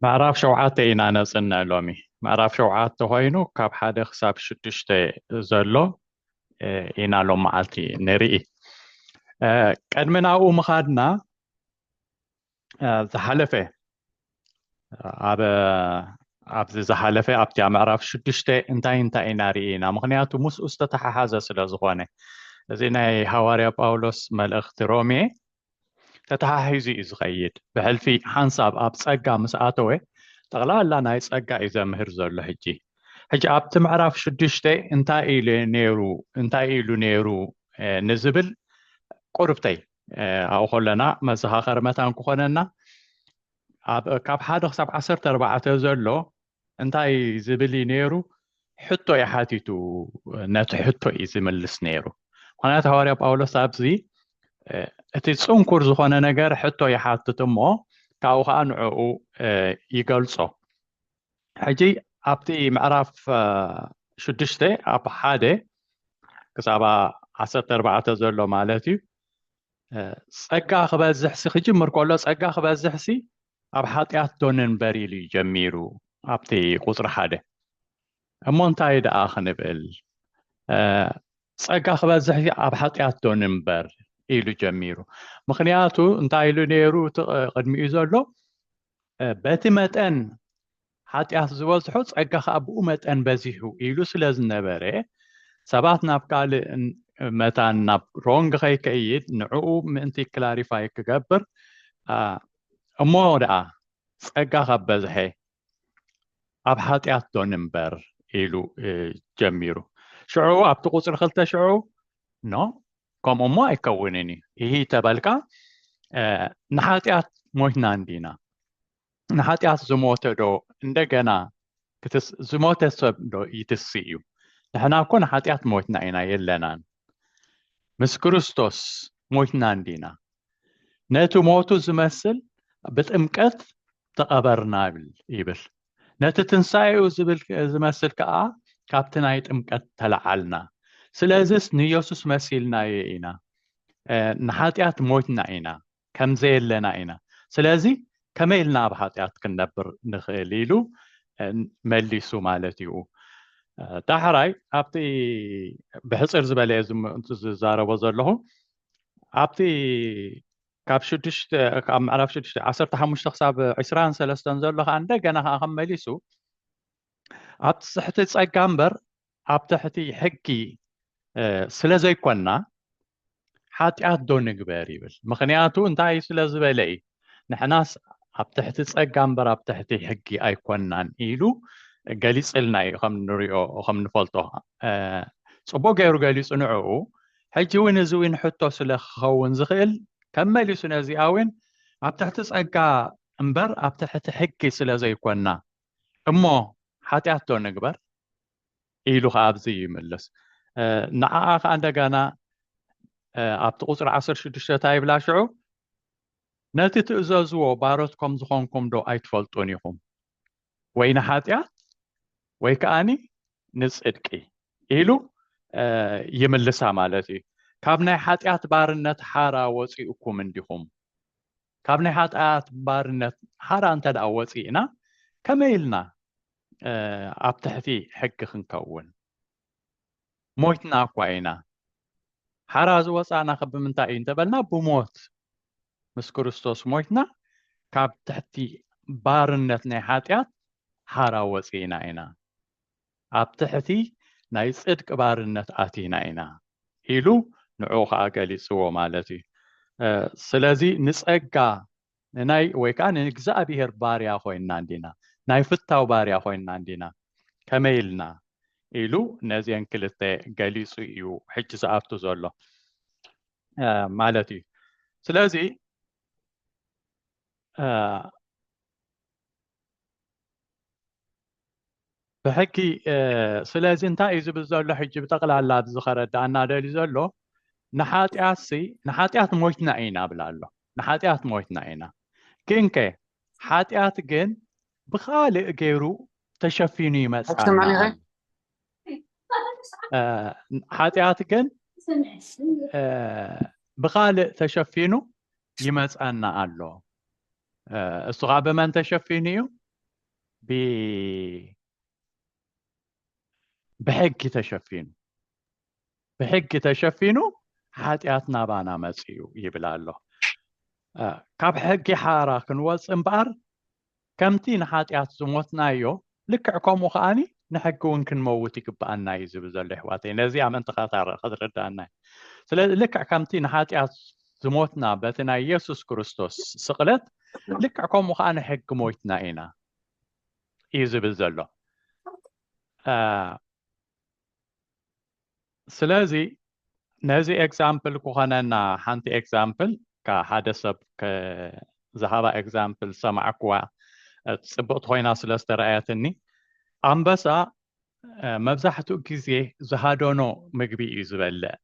ምዕራፍ ሸውዓተ ኢና ነጽንዕ ሎሚ ምዕራፍ ሸውዓተ ኮይኑ ካብ ሓደ ክሳብ ሽዱሽተ ዘሎ ኢና ሎም መዓልቲ ንርኢ ቀድሚ ናብኡ ምኻድና ዝሓለፈ ኣብ ኣብዚ ዝሓለፈ ኣብቲ ኣብ ምዕራፍ ሽዱሽተ እንታይ እንታይ ኢና ርኢና ምክንያቱ ምስኡ ዝተተሓሓዘ ስለ ዝኾነ እዚ ናይ ሃዋርያ ጳውሎስ መልእኽቲ ሮሜ ተተሓሒዙ እዩ ዝኸይድ ብሕልፊ ሓንሳብ ኣብ ጸጋ ምስ ኣተወ ጠቕላላ ናይ ጸጋ እዩ ዘምህር ዘሎ ሕጂ ሕጂ ኣብቲ ምዕራፍ ሽዱሽተ እንታይ ኢሉ ነይሩ እንታይ ኢሉ ነይሩ ንዝብል ቁርብተይ ኣብኡ ከለና መዘኻኸሪ መታን ክኾነና ካብ ሓደ ክሳብ ዓሰርተ ኣርባዕተ ዘሎ እንታይ ዝብል እዩ ነይሩ ሕቶ እዩ ሓቲቱ ነቲ ሕቶ እዩ ዝምልስ ነይሩ ምክንያቱ ሃዋርያ ጳውሎስ ኣብዚ እቲ ፅንኩር ዝኾነ ነገር ሕቶ ይሓትት እሞ ካብኡ ከዓ ንዕኡ ይገልፆ ሕጂ ኣብቲ ምዕራፍ ሽዱሽተ ኣብ ሓደ ክሳብ ዓሰርተ ኣርባዕተ ዘሎ ማለት እዩ ጸጋ ክበዝሕሲ ክጅምር ከሎ ጸጋ ክበዝሕሲ ኣብ ሓጢኣት ዶ ንንበር ኢሉ እዩ ጀሚሩ ኣብቲ ቁፅሪ ሓደ እሞ እንታይ ደኣ ክንብል ጸጋ ክበዝሕ ኣብ ሓጢኣት ዶ ንንበር ኢሉ ጀሚሩ ምክንያቱ እንታይ ኢሉ ነይሩ እቲ ቅድሚኡ ዘሎ በቲ መጠን ሓጢኣት ዝበዝሖ ጸጋ ከኣ ብኡ መጠን በዚሑ ኢሉ ስለ ዝነበረ ሰባት ናብ ካልእ መታን ናብ ሮንግ ከይከይድ ንዕኡ ምእንቲ ክላሪፋይ ክገብር እሞ ደኣ ጸጋ ካብ በዝሐ ኣብ ሓጢኣት ዶ ንንበር ኢሉ ጀሚሩ ሽዑ ኣብቲ ቁፅሪ ክልተ ሽዑ ኖ ከምኡ እሞ ኣይከውንን እዩ ይህ ተበልካ ንሓጢኣት ሞይትና እንዲና ንሓጢኣት ዝሞተ ዶ እንደገና ዝሞተ ሰብ ዶ ይትስ እዩ ንሕና እኮ ንሓጢኣት ሞትና ኢና የለናን ምስ ክርስቶስ ሞትና እንዲና ነቲ ሞቱ ዝመስል ብጥምቀት ተቐበርና ይብል ይብል ነቲ ትንሳኤኡ ዝብል ዝመስል ከዓ ካብቲ ናይ ጥምቀት ተለዓልና ስለዚስ ንየሱስ መሲልናዮ ኢና ንሓጢኣት ሞትና ኢና ከም ዘየለና ኢና ስለዚ ከመይ ኢልና ኣብ ሓጢኣት ክንነብር ንኽእል ኢሉ መሊሱ ማለት እዩ ዳሕራይ ኣብቲ ብሕፅር ዝበለ ዝዛረቦ ዘለኹ ኣብቲ ካብ ሽዱሽተ ካብ ምዕራፍ ሽዱሽተ ዓሰርተ ሓሙሽተ ክሳብ ዕስራን ሰለስተን ዘሎ ከዓ እንደገና ከዓ ከም መሊሱ ኣብ ትሕቲ ፀጋ እምበር ኣብ ትሕቲ ሕጊ ስለ ዘይኮንና ሓጢኣት ዶ ንግበር ይብል ምክንያቱ እንታይ ስለ ዝበለ እዩ ንሕናስ ኣብ ትሕቲ ጸጋ እምበር ኣብ ትሕቲ ሕጊ ኣይኮናን ኢሉ ገሊፅልና እዩ ከም ንሪኦ ከም ንፈልጦ ፅቡቅ ገይሩ ገሊፁ ንዕኡ ሕጂ እውን እዚ እውን ሕቶ ስለ ክኸውን ዝኽእል ከም መሊሱ ነዚኣ እውን ኣብ ትሕቲ ጸጋ እምበር ኣብ ትሕቲ ሕጊ ስለ ዘይኮና እሞ ሓጢኣት ዶ ንግበር ኢሉ ከዓ ኣብዚ ይምልስ ንዓኣ ከዓ እንደገና ኣብቲ ቁፅሪ ዓሰርተ ሽዱሽተ እንታይ ይብላ ሽዑ ነቲ ትእዘዝዎ ባሮት ከም ዝኾንኩም ዶ ኣይትፈልጡን ኢኹም ወይ ንሓጢኣት ወይ ከዓኒ ንፅድቂ ኢሉ ይምልሳ ማለት እዩ ካብ ናይ ሓጢኣት ባርነት ሓራ ወፂኡኩም እንዲኹም ካብ ናይ ሓጢኣት ባርነት ሓራ እንተ ደኣ ወፂእና ከመይ ኢልና ኣብ ትሕቲ ሕጊ ክንከውን ሞይትና እኳ ኢና ሓራ ዝወፃእና ከ ብምንታይ እዩ እንተበልና ብሞት ምስ ክርስቶስ ሞይትና ካብ ትሕቲ ባርነት ናይ ሓጢኣት ሓራ ወፂእና ኢና ኣብ ትሕቲ ናይ ጽድቂ ባርነት ኣቲና ኢና ኢሉ ንዕኡ ከኣ ገሊጽዎ ማለት እዩ ስለዚ ንጸጋ ንናይ ወይ ከኣ ንእግዚኣብሄር ባርያ ኮይንና እንዲና ናይ ፍታው ባርያ ኮይንና እንዲና ከመይ ኢልና ኢሉ ነዚን ክልተ ገሊጹ እዩ ሕጂ ዝኣቱ ዘሎ ማለት እዩ ስለዚ ብሕጊ ስለዚ እንታይ እዩ ዝብል ዘሎ ሕጂ ብጠቕላላ ኣብዚ ከረዳእና ደልዩ ዘሎ ንሓጢኣት ሲ ንሓጢኣት ሞይትና ኢና ብላ ኣሎ ንሓጢኣት ሞይትና ኢና ግን ከ ሓጢኣት ግን ብካልእ ገይሩ ተሸፊኑ ይመፅእ ሓጢኣት ግን ብካልእ ተሸፊኑ ይመፀና ኣሎ እሱ ከዓ ብመን ተሸፊኑ እዩ ብሕጊ ተሸፊኑ ብሕጊ ተሸፊኑ ሓጢኣት ናባና መፅኡ ይብል ኣሎ ካብ ሕጊ ሓራ ክንወፅ እምበኣር ከምቲ ንሓጢኣት ዝሞትናዮ ልክዕ ከምኡ ከኣ ንሕጊ እውን ክንመውት ይግብኣና እዩ ዝብል ዘሎ ይሕዋተይ ነዚ ኣመንትኻ ታረ ክትርዳኣና እዩ ስለዚ ልክዕ ከምቲ ንሓጢኣት ዝሞትና በቲ ናይ የሱስ ክርስቶስ ስቕለት ልክዕ ከምኡ ከዓ ንሕጊ ሞይትና ኢና እዩ ዝብል ዘሎ ስለዚ ነዚ ኤግዛምፕል ክኾነና ሓንቲ ኤግዛምፕል ካብ ሓደ ሰብ ዝሃባ ኤግዛምፕል ሰማዕኩዋ ፅብቕቲ ኮይና ስለ ዝተረኣየትኒ ኣንበሳ መብዛሕትኡ ግዜ ዝሃደኖ ምግቢ እዩ ዝበልዕ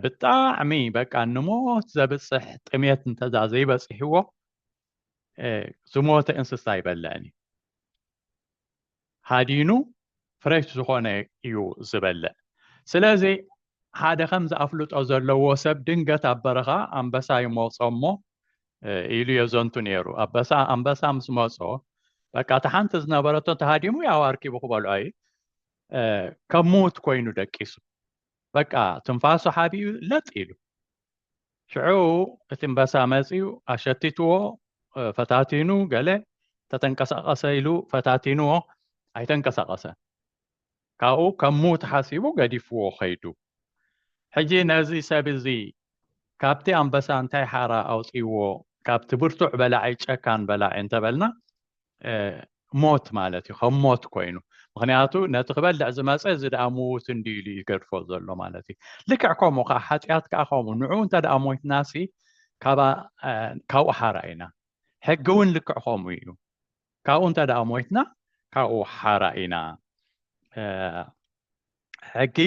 ብጣዕሚ በቃ ንሞት ዘብፅሕ ጥሜት እንተዛ ዘይበፅሕዎ ዝሞተ እንስሳ ይበልዕን እዩ ሃዲኑ ፍረሽ ዝኾነ እዩ ዝበልዕ። ስለዚ ሓደ ከምዚ ኣፍልጦ ዘለዎ ሰብ ድንገት ኣብ በረኻ ኣንበሳ ይመጾ እሞ ኢሉ የዘንቱ ነይሩ። ኣበሳ ኣንበሳ ምስ መጾ በቃ እቲ ሓንቲ ዝነበረቶ ተሃዲሙ ያው ኣርኪቡ ክበልዖ እዩ ከም ምዉት ኮይኑ ደቂሱ በቃ ትንፋሱ ሓቢኡ ለጥ ኢሉ ሽዑ እቲ እምበሳ መፅኡ ኣሸቲትዎ ፈታቲኑ ገለ ተተንቀሳቐሰ ኢሉ ፈታቲንዎ ኣይተንቀሳቐሰን ካብኡ ከም ሙት ሓሲቡ ገዲፍዎ ከይዱ ሕጂ ነዚ ሰብ እዚ ካብቲ ኣምበሳ እንታይ ሓራ ኣውፅዎ ካብቲ ብርቱዕ በላዒ ጨካን በላዒ እንተበልና ሞት ማለት እዩ ከም ሞት ኮይኑ ምክንያቱ ነቲ ክበልዕ ዝመፀ እዚ ደኣ ምዉት እንዲ ኢሉ እዩ ገድፎ ዘሎ ማለት እዩ ልክዕ ከምኡ ከዓ ሓጢኣት ከዓ ከምኡ ንዑ እንተ ደኣ ሞይትናሲ ካብኡ ሓራ ኢና ሕጊ እውን ልክዕ ከምኡ እዩ ካብኡ እንተ ደኣ ሞይትና ካብኡ ሓራ ኢና ሕጊ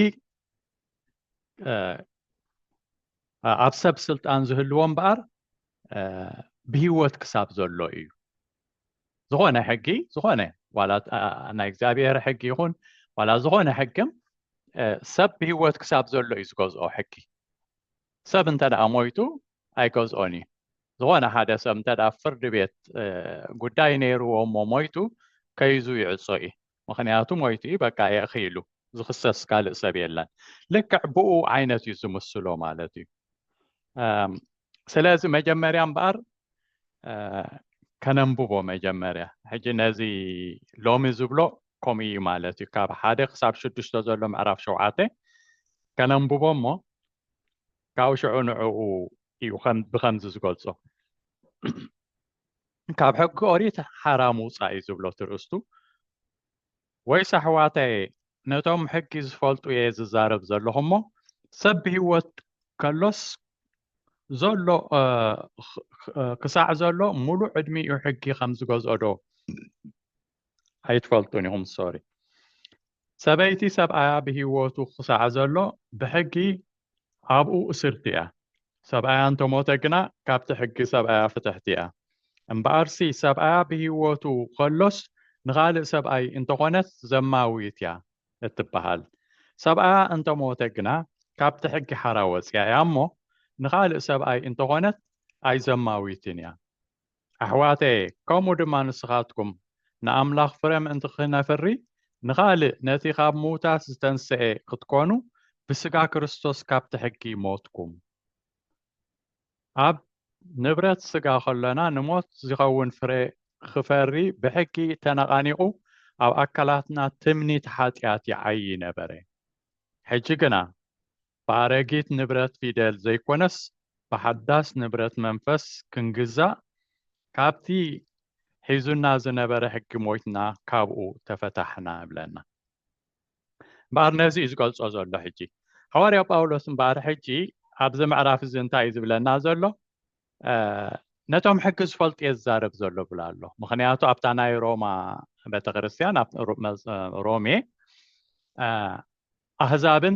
ኣብ ሰብ ስልጣን ዝህልዎ እምበኣር ብሂወት ክሳብ ዘሎ እዩ ዝኾነ ሕጊ ዝኾነ ዋላ ናይ እግዚኣብሔር ሕጊ ይኹን ዋላ ዝኾነ ሕግም ሰብ ብሂወት ክሳብ ዘሎ እዩ ዝገዝኦ ሕጊ ሰብ እንተ ደኣ ሞይቱ ኣይገዝኦን እዩ ዝኾነ ሓደ ሰብ እንተ ፍርዲ ቤት ጉዳይ ነይርዎ እሞ ሞይቱ ከይዙ ይዕፆ እዩ ምኽንያቱ ሞይቱ እዩ በቃ የእኺ ኢሉ ዝኽሰስ ካልእ ሰብ የለን ልክዕ ብኡ ዓይነት እዩ ዝምስሎ ማለት እዩ ስለዚ መጀመርያ እምበኣር ከነንብቦ መጀመርያ ሕጂ ነዚ ሎሚ ዝብሎ ከምኡ እዩ ማለት እዩ ካብ ሓደ ክሳብ ሽዱሽተ ዘሎ ምዕራፍ ሸውዓተ ከነንብቦ እሞ ካብኡ ሽዑ ንዕኡ እዩ ብከምዚ ዝገልጾ ካብ ሕጊ ኦሪት ሓራ ምውጻእ'ዩ ዝብሎ ትርእስቱ። ወይስ ኣሕዋተየ ነቶም ሕጊ ዝፈልጡ'የ ዝዛረብ ዘለኹ'ሞ ሰብ ብህይወት ከሎስ ዘሎ ክሳዕ ዘሎ ምሉእ ዕድሚኡ ሕጊ ከም ዝገዝኦዶ ኣይትፈልጡን ኢኹም ሶሪ ሰበይቲ ሰብኣያ ብሂወቱ ክሳዕ ዘሎ ብሕጊ ኣብኡ እስርቲ እያ ሰብኣያ እንተሞተ ግና ካብቲ ሕጊ ሰብኣያ ፍትሕቲ እያ እምበኣርሲ ሰብኣያ ብሂወቱ ከሎስ ንኻልእ ሰብኣይ እንተኾነት ዘማዊት እያ እትበሃል ሰብኣያ እንተሞተ ግና ካብቲ ሕጊ ሓራ ወፅያ እያ እሞ ንኻልእ ሰብኣይ እንተኾነት ኣይዘማዊትን እያ ኣሕዋተየ ከምኡ ድማ ንስኻትኩም ንኣምላኽ ፍረ ምእንቲ ኽነፍሪ ንኻልእ ነቲ ኻብ ምዉታት ዝተንስኤ ኽትኰኑ ብስጋ ክርስቶስ ካብቲ ሕጊ ሞትኩም ኣብ ንብረት ስጋ ኸሎና ንሞት ዚኸውን ፍረ ኽፈሪ ብሕጊ ተነቓኒቑ ኣብ ኣካላትና ትምኒት ሓጢኣት ይዓዪ ነበረ ሕጂ ግና ብኣረጊት ንብረት ፊደል ዘይኮነስ ብሓዳስ ንብረት መንፈስ ክንግዛእ ካብቲ ሒዙና ዝነበረ ሕጊ ሞይትና ካብኡ ተፈታሕና እብለና እምበኣር ነዚ እዩ ዝገልጾ ዘሎ ሕጂ ሃዋርያ ጳውሎስ እምበኣር ሕጂ ኣብዚ ምዕራፍ እዚ እንታይ እዩ ዝብለና ዘሎ ነቶም ሕጊ ዝፈልጡ እየ ዝዛረብ ዘሎ ብላ ኣሎ ምክንያቱ ኣብታ ናይ ሮማ ቤተክርስትያን ኣብ ሮሜ ኣህዛብን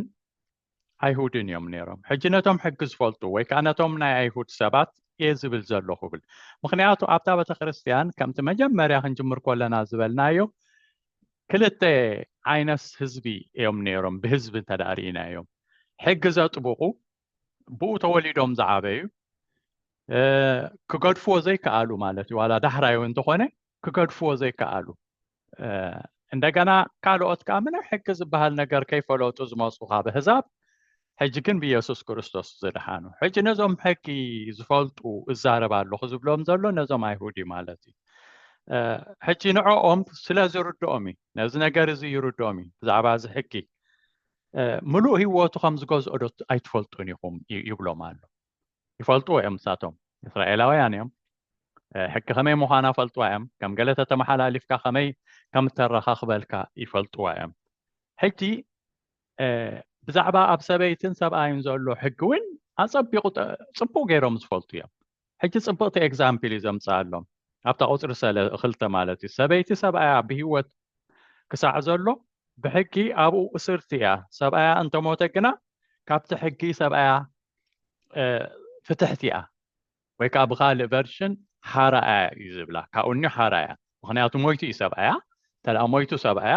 ኣይሁድን እዮም ነይሮም ሕጂ ነቶም ሕጊ ዝፈልጡ ወይ ከዓ ነቶም ናይ ኣይሁድ ሰባት እየ ዝብል ዘለኹ ብል ምክንያቱ ኣብታ ቤተ ክርስትያን ከምቲ መጀመርያ ክንጅምር ኮለና ዝበልናዮ ክልተ ዓይነት ህዝቢ እዮም ነይሮም ብህዝቢ እንተዳርእና እዮም ሕጊ ዘጥብቑ ብኡ ተወሊዶም ዝዓበዩ ክገድፍዎ ዘይከኣሉ ማለት እዩ ዋላ ዳሕራዩ እንተኾነ ክገድፍዎ ዘይከኣሉ እንደገና ካልኦት ከዓ ምንም ሕጊ ዝበሃል ነገር ከይፈለጡ ዝመፁ ካብ ኣህዛብ ሕጂ ግን ብየሱስ ክርስቶስ ዝደሓኑ ሕጂ ነዞም ሕጊ ዝፈልጡ እዛረብ ኣለኹ ዝብሎም ዘሎ ነዞም ኣይሁድ እዩ ማለት እዩ ሕጂ ንዕኦም ስለ ዝርድኦም እዩ ነዚ ነገር እዚ ይርድኦም እዩ ብዛዕባ እዚ ሕጊ ምሉእ ህይወቱ ከም ዝገዝኦ ዶ ኣይትፈልጡን ኢኹም ይብሎም ኣሎ ይፈልጥዎ እዮም ንሳቶም እስራኤላውያን እዮም ሕጊ ከመይ ምዃና ፈልጥዋ እዮም ከም ገለ ተተመሓላሊፍካ ከመይ ከም እተረኻኽበልካ ይፈልጥዋ እዮም ሕጂ ብዛዕባ ኣብ ሰበይትን ሰብኣይን ዘሎ ሕጊ እውን ኣፀቢቑ ፅቡቅ ገይሮም ዝፈልጡ እዮም ሕጂ ፅብቕቲ ኤግዛምፕል እዩ ዘምፅኣሎም ኣብታ ቁፅሪ ሰለ ክልተ ማለት እዩ ሰበይቲ ሰብኣያ ብሂወት ክሳዕ ዘሎ ብሕጊ ኣብኡ እስርቲ እያ ሰብኣያ እንተሞተ ግና ካብቲ ሕጊ ሰብኣያ ፍትሕቲ እያ ወይ ከዓ ብካልእ ቨርሽን ሓራ እያ እዩ ዝብላ ካብኡ እኒ ሓራ እያ ምክንያቱ ሞይቱ እዩ ሰብኣያ እንተደኣ ሞይቱ ሰብኣያ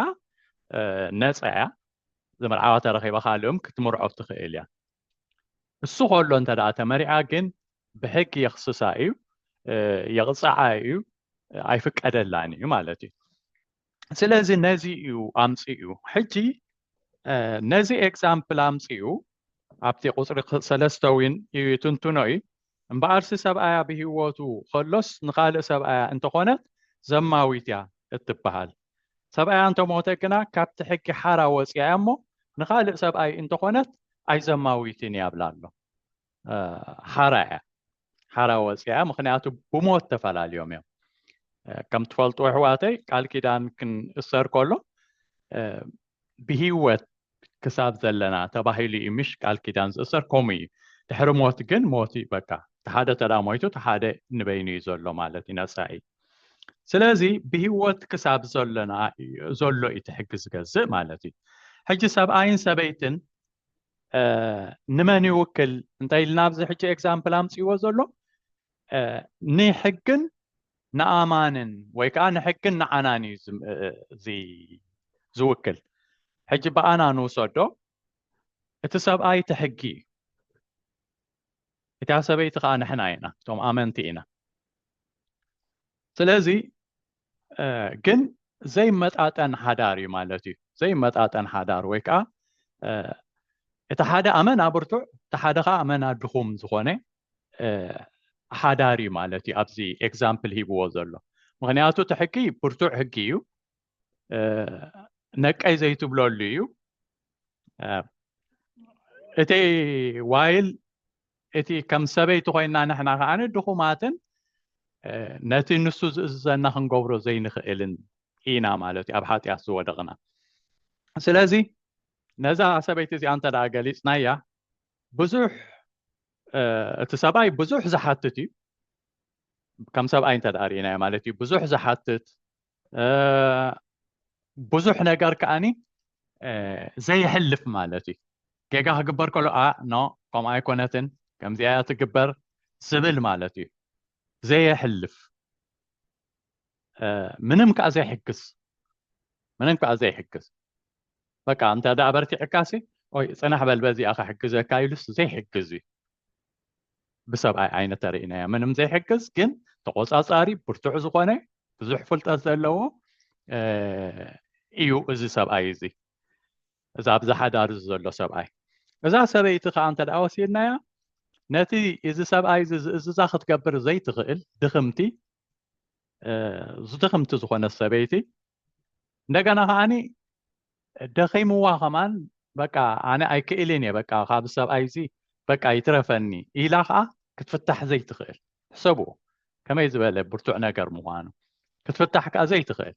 ነፃ እያ ዝምርዓዋ ተረኪባ ካልእም ክትምርዖ ትኽእል እያ እሱ ከሎ እንተደኣ ተመሪዓ ግን ብሕጊ የኽስሳ እዩ የቕፅዓ እዩ ኣይፍቀደላን እዩ ማለት እዩ ስለዚ ነዚ እዩ ኣምፅኡ ሕጂ ነዚ ኤግዛምፕል ኣምፅኡ ኣብቲ ቁፅሪ ሰለስተ እውን እዩ ትንትኖ እዩ እምበኣርሲ ሰብኣያ ብሂወቱ ከሎስ ንካልእ ሰብኣያ እንተኾነት ዘማዊት እያ እትበሃል ሰብኣያ እንተሞተ ግና ካብቲ ሕጊ ሓራ ወፅያ እያ እሞ ንካልእ ሰብኣይ እንተኾነት ኣይዘማዊትን እያ ብላ ኣሎ ሓራ እያ ሓራ ወፅያ ምክንያቱ ብሞት ተፈላልዮም እዮም ከም ትፈልጡ ኣሕዋተይ ቃል ኪዳን ክንእሰር ከሎ ብሂወት ክሳብ ዘለና ተባሂሉ እዩ ምሽ ቃል ኪዳን ዝእሰር ከምኡ እዩ ድሕሪ ሞት ግን ሞት እዩ በቃ ተሓደ ተዳ ሞይቱ ተሓደ ንበይኑ እዩ ዘሎ ማለት እዩ ነፃ እዩ ስለዚ ብሂወት ክሳብ ዘለና ዘሎ እዩ ትሕጊ ዝገዝእ ማለት እዩ ሕጂ ሰብኣይን ሰበይትን ንመን ይውክል እንታይ ኢልና ኣብዚ ሕጂ ኤግዛምፕል ኣምፅዎ ዘሎ ንሕግን ንኣማንን ወይ ከዓ ንሕግን ንዓናን እዩ ዝውክል ሕጂ ብኣና ንውሰዶ እቲ ሰብኣይ እቲ ሕጊ እዩ እታ ሰበይቲ ከዓ ንሕና ኢና እቶም ኣመንቲ ኢና ስለዚ ግን ዘይመጣጠን ሓዳር እዩ ማለት እዩ ዘይመጣጠን ሓዳር ወይ ከዓ እቲ ሓደ ኣመና ብርቱዕ እቲ ሓደ ከዓ ኣመና ድኹም ዝኾነ ሓዳር እዩ ማለት እዩ ኣብዚ ኤግዛምፕል ሂብዎ ዘሎ ምክንያቱ እቲ ሕጊ ብርቱዕ ሕጊ እዩ ነቀይ ዘይትብለሉ እዩ እቲ ዋይል እቲ ከም ሰበይቲ ኮይና ንሕና ከዓኒ ድኹማትን ነቲ ንሱ ዝእዝዘና ክንገብሮ ዘይንኽእልን ኢና ማለት እዩ ኣብ ሓጢኣት ዝወደቕና ስለዚ ነዛ ሰበይቲ እዚኣ እንተ ደኣ ገሊፅናያ ብዙሕ እቲ ሰብኣይ ብዙሕ ዝሓትት እዩ ከም ሰብኣይ እንተ ደኣ ርኢናዮ ማለት እዩ ብዙሕ ዝሓትት ብዙሕ ነገር ከዓኒ ዘይሕልፍ ማለት እዩ ጌጋ ክግበር ከሎ ኣ ኖ ከምኡ ኣይኮነትን ከምዚኣ እያ ትግበር ዝብል ማለት እዩ ዘየሕልፍ ምንም ከዓ ዘይሕግዝ ምንም ከዓ ዘይሕግዝ በቃ እንተ ደኣ በርቲዕካሲ ወይ ፅናሕ በል በዚኣ ክሕግዘካ ኢሉስ ዘይሕግዝ እዩ ብሰብኣይ ዓይነ ተርእናያ ምንም ዘይሕግዝ ግን ተቆፃፃሪ ብርቱዕ ዝኾነ ብዙሕ ፍልጠት ዘለዎ እዩ እዚ ሰብኣይ እዚ እዚ ኣብዚ ሓዳር እዚ ዘሎ ሰብኣይ እዛ ሰበይቲ ከዓ እንተ ወሲድናያ ነቲ እዚ ሰብኣይ እዚ ዝእዝዛ ክትገብር ዘይትኽእል ድኽምቲ ዝድኽምቲ ዝኾነ ሰበይቲ እንደገና ከዓኒ ደኺምዋ ከማን በቃ ኣነ ኣይክእልን እየ በቃ ካብ ሰብኣይ እዚ በቃ ይትረፈኒ ኢላ ከዓ ክትፍታሕ ዘይትኽእል ሕሰቡ ከመይ ዝበለ ብርቱዕ ነገር ምዃኑ ክትፍታሕ ከዓ ዘይትኽእል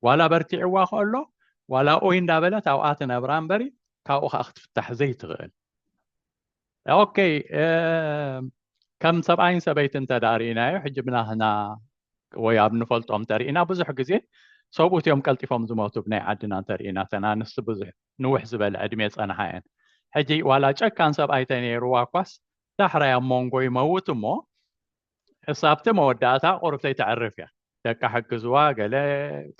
ዋላ በርቲዕዋ ከሎ ዋላ ኦይ እንዳበለት ኣብኣ ትነብራ እምበሪ ካብኡ ከዓ ክትፍታሕ ዘይትኽእል ኦከይ ከም ሰብኣይን ሰበይቲ እንተ ርእናዮ ሕጂ ብናህና ወይ ኣብ ንፈልጦም እንተርእና ብዙሕ ግዜ ሰብኡት እዮም ቀልጢፎም ዝሞቱ ብናይ ዓድና እንተርእና ተን ኣንስቲ ብዙሕ ንውሕ ዝበለ ዕድሜ ፀንሓ እየን ሕጂ ዋላ ጨካን ሰብኣይ ተነይርዋ እኳስ ዳሕራይ ኣብ መንጎ ይመውት እሞ ክሳብቲ መወዳእታ ቁርብተይ ተዕርፍ እያ ደቃ ሕግዝዋ ገለ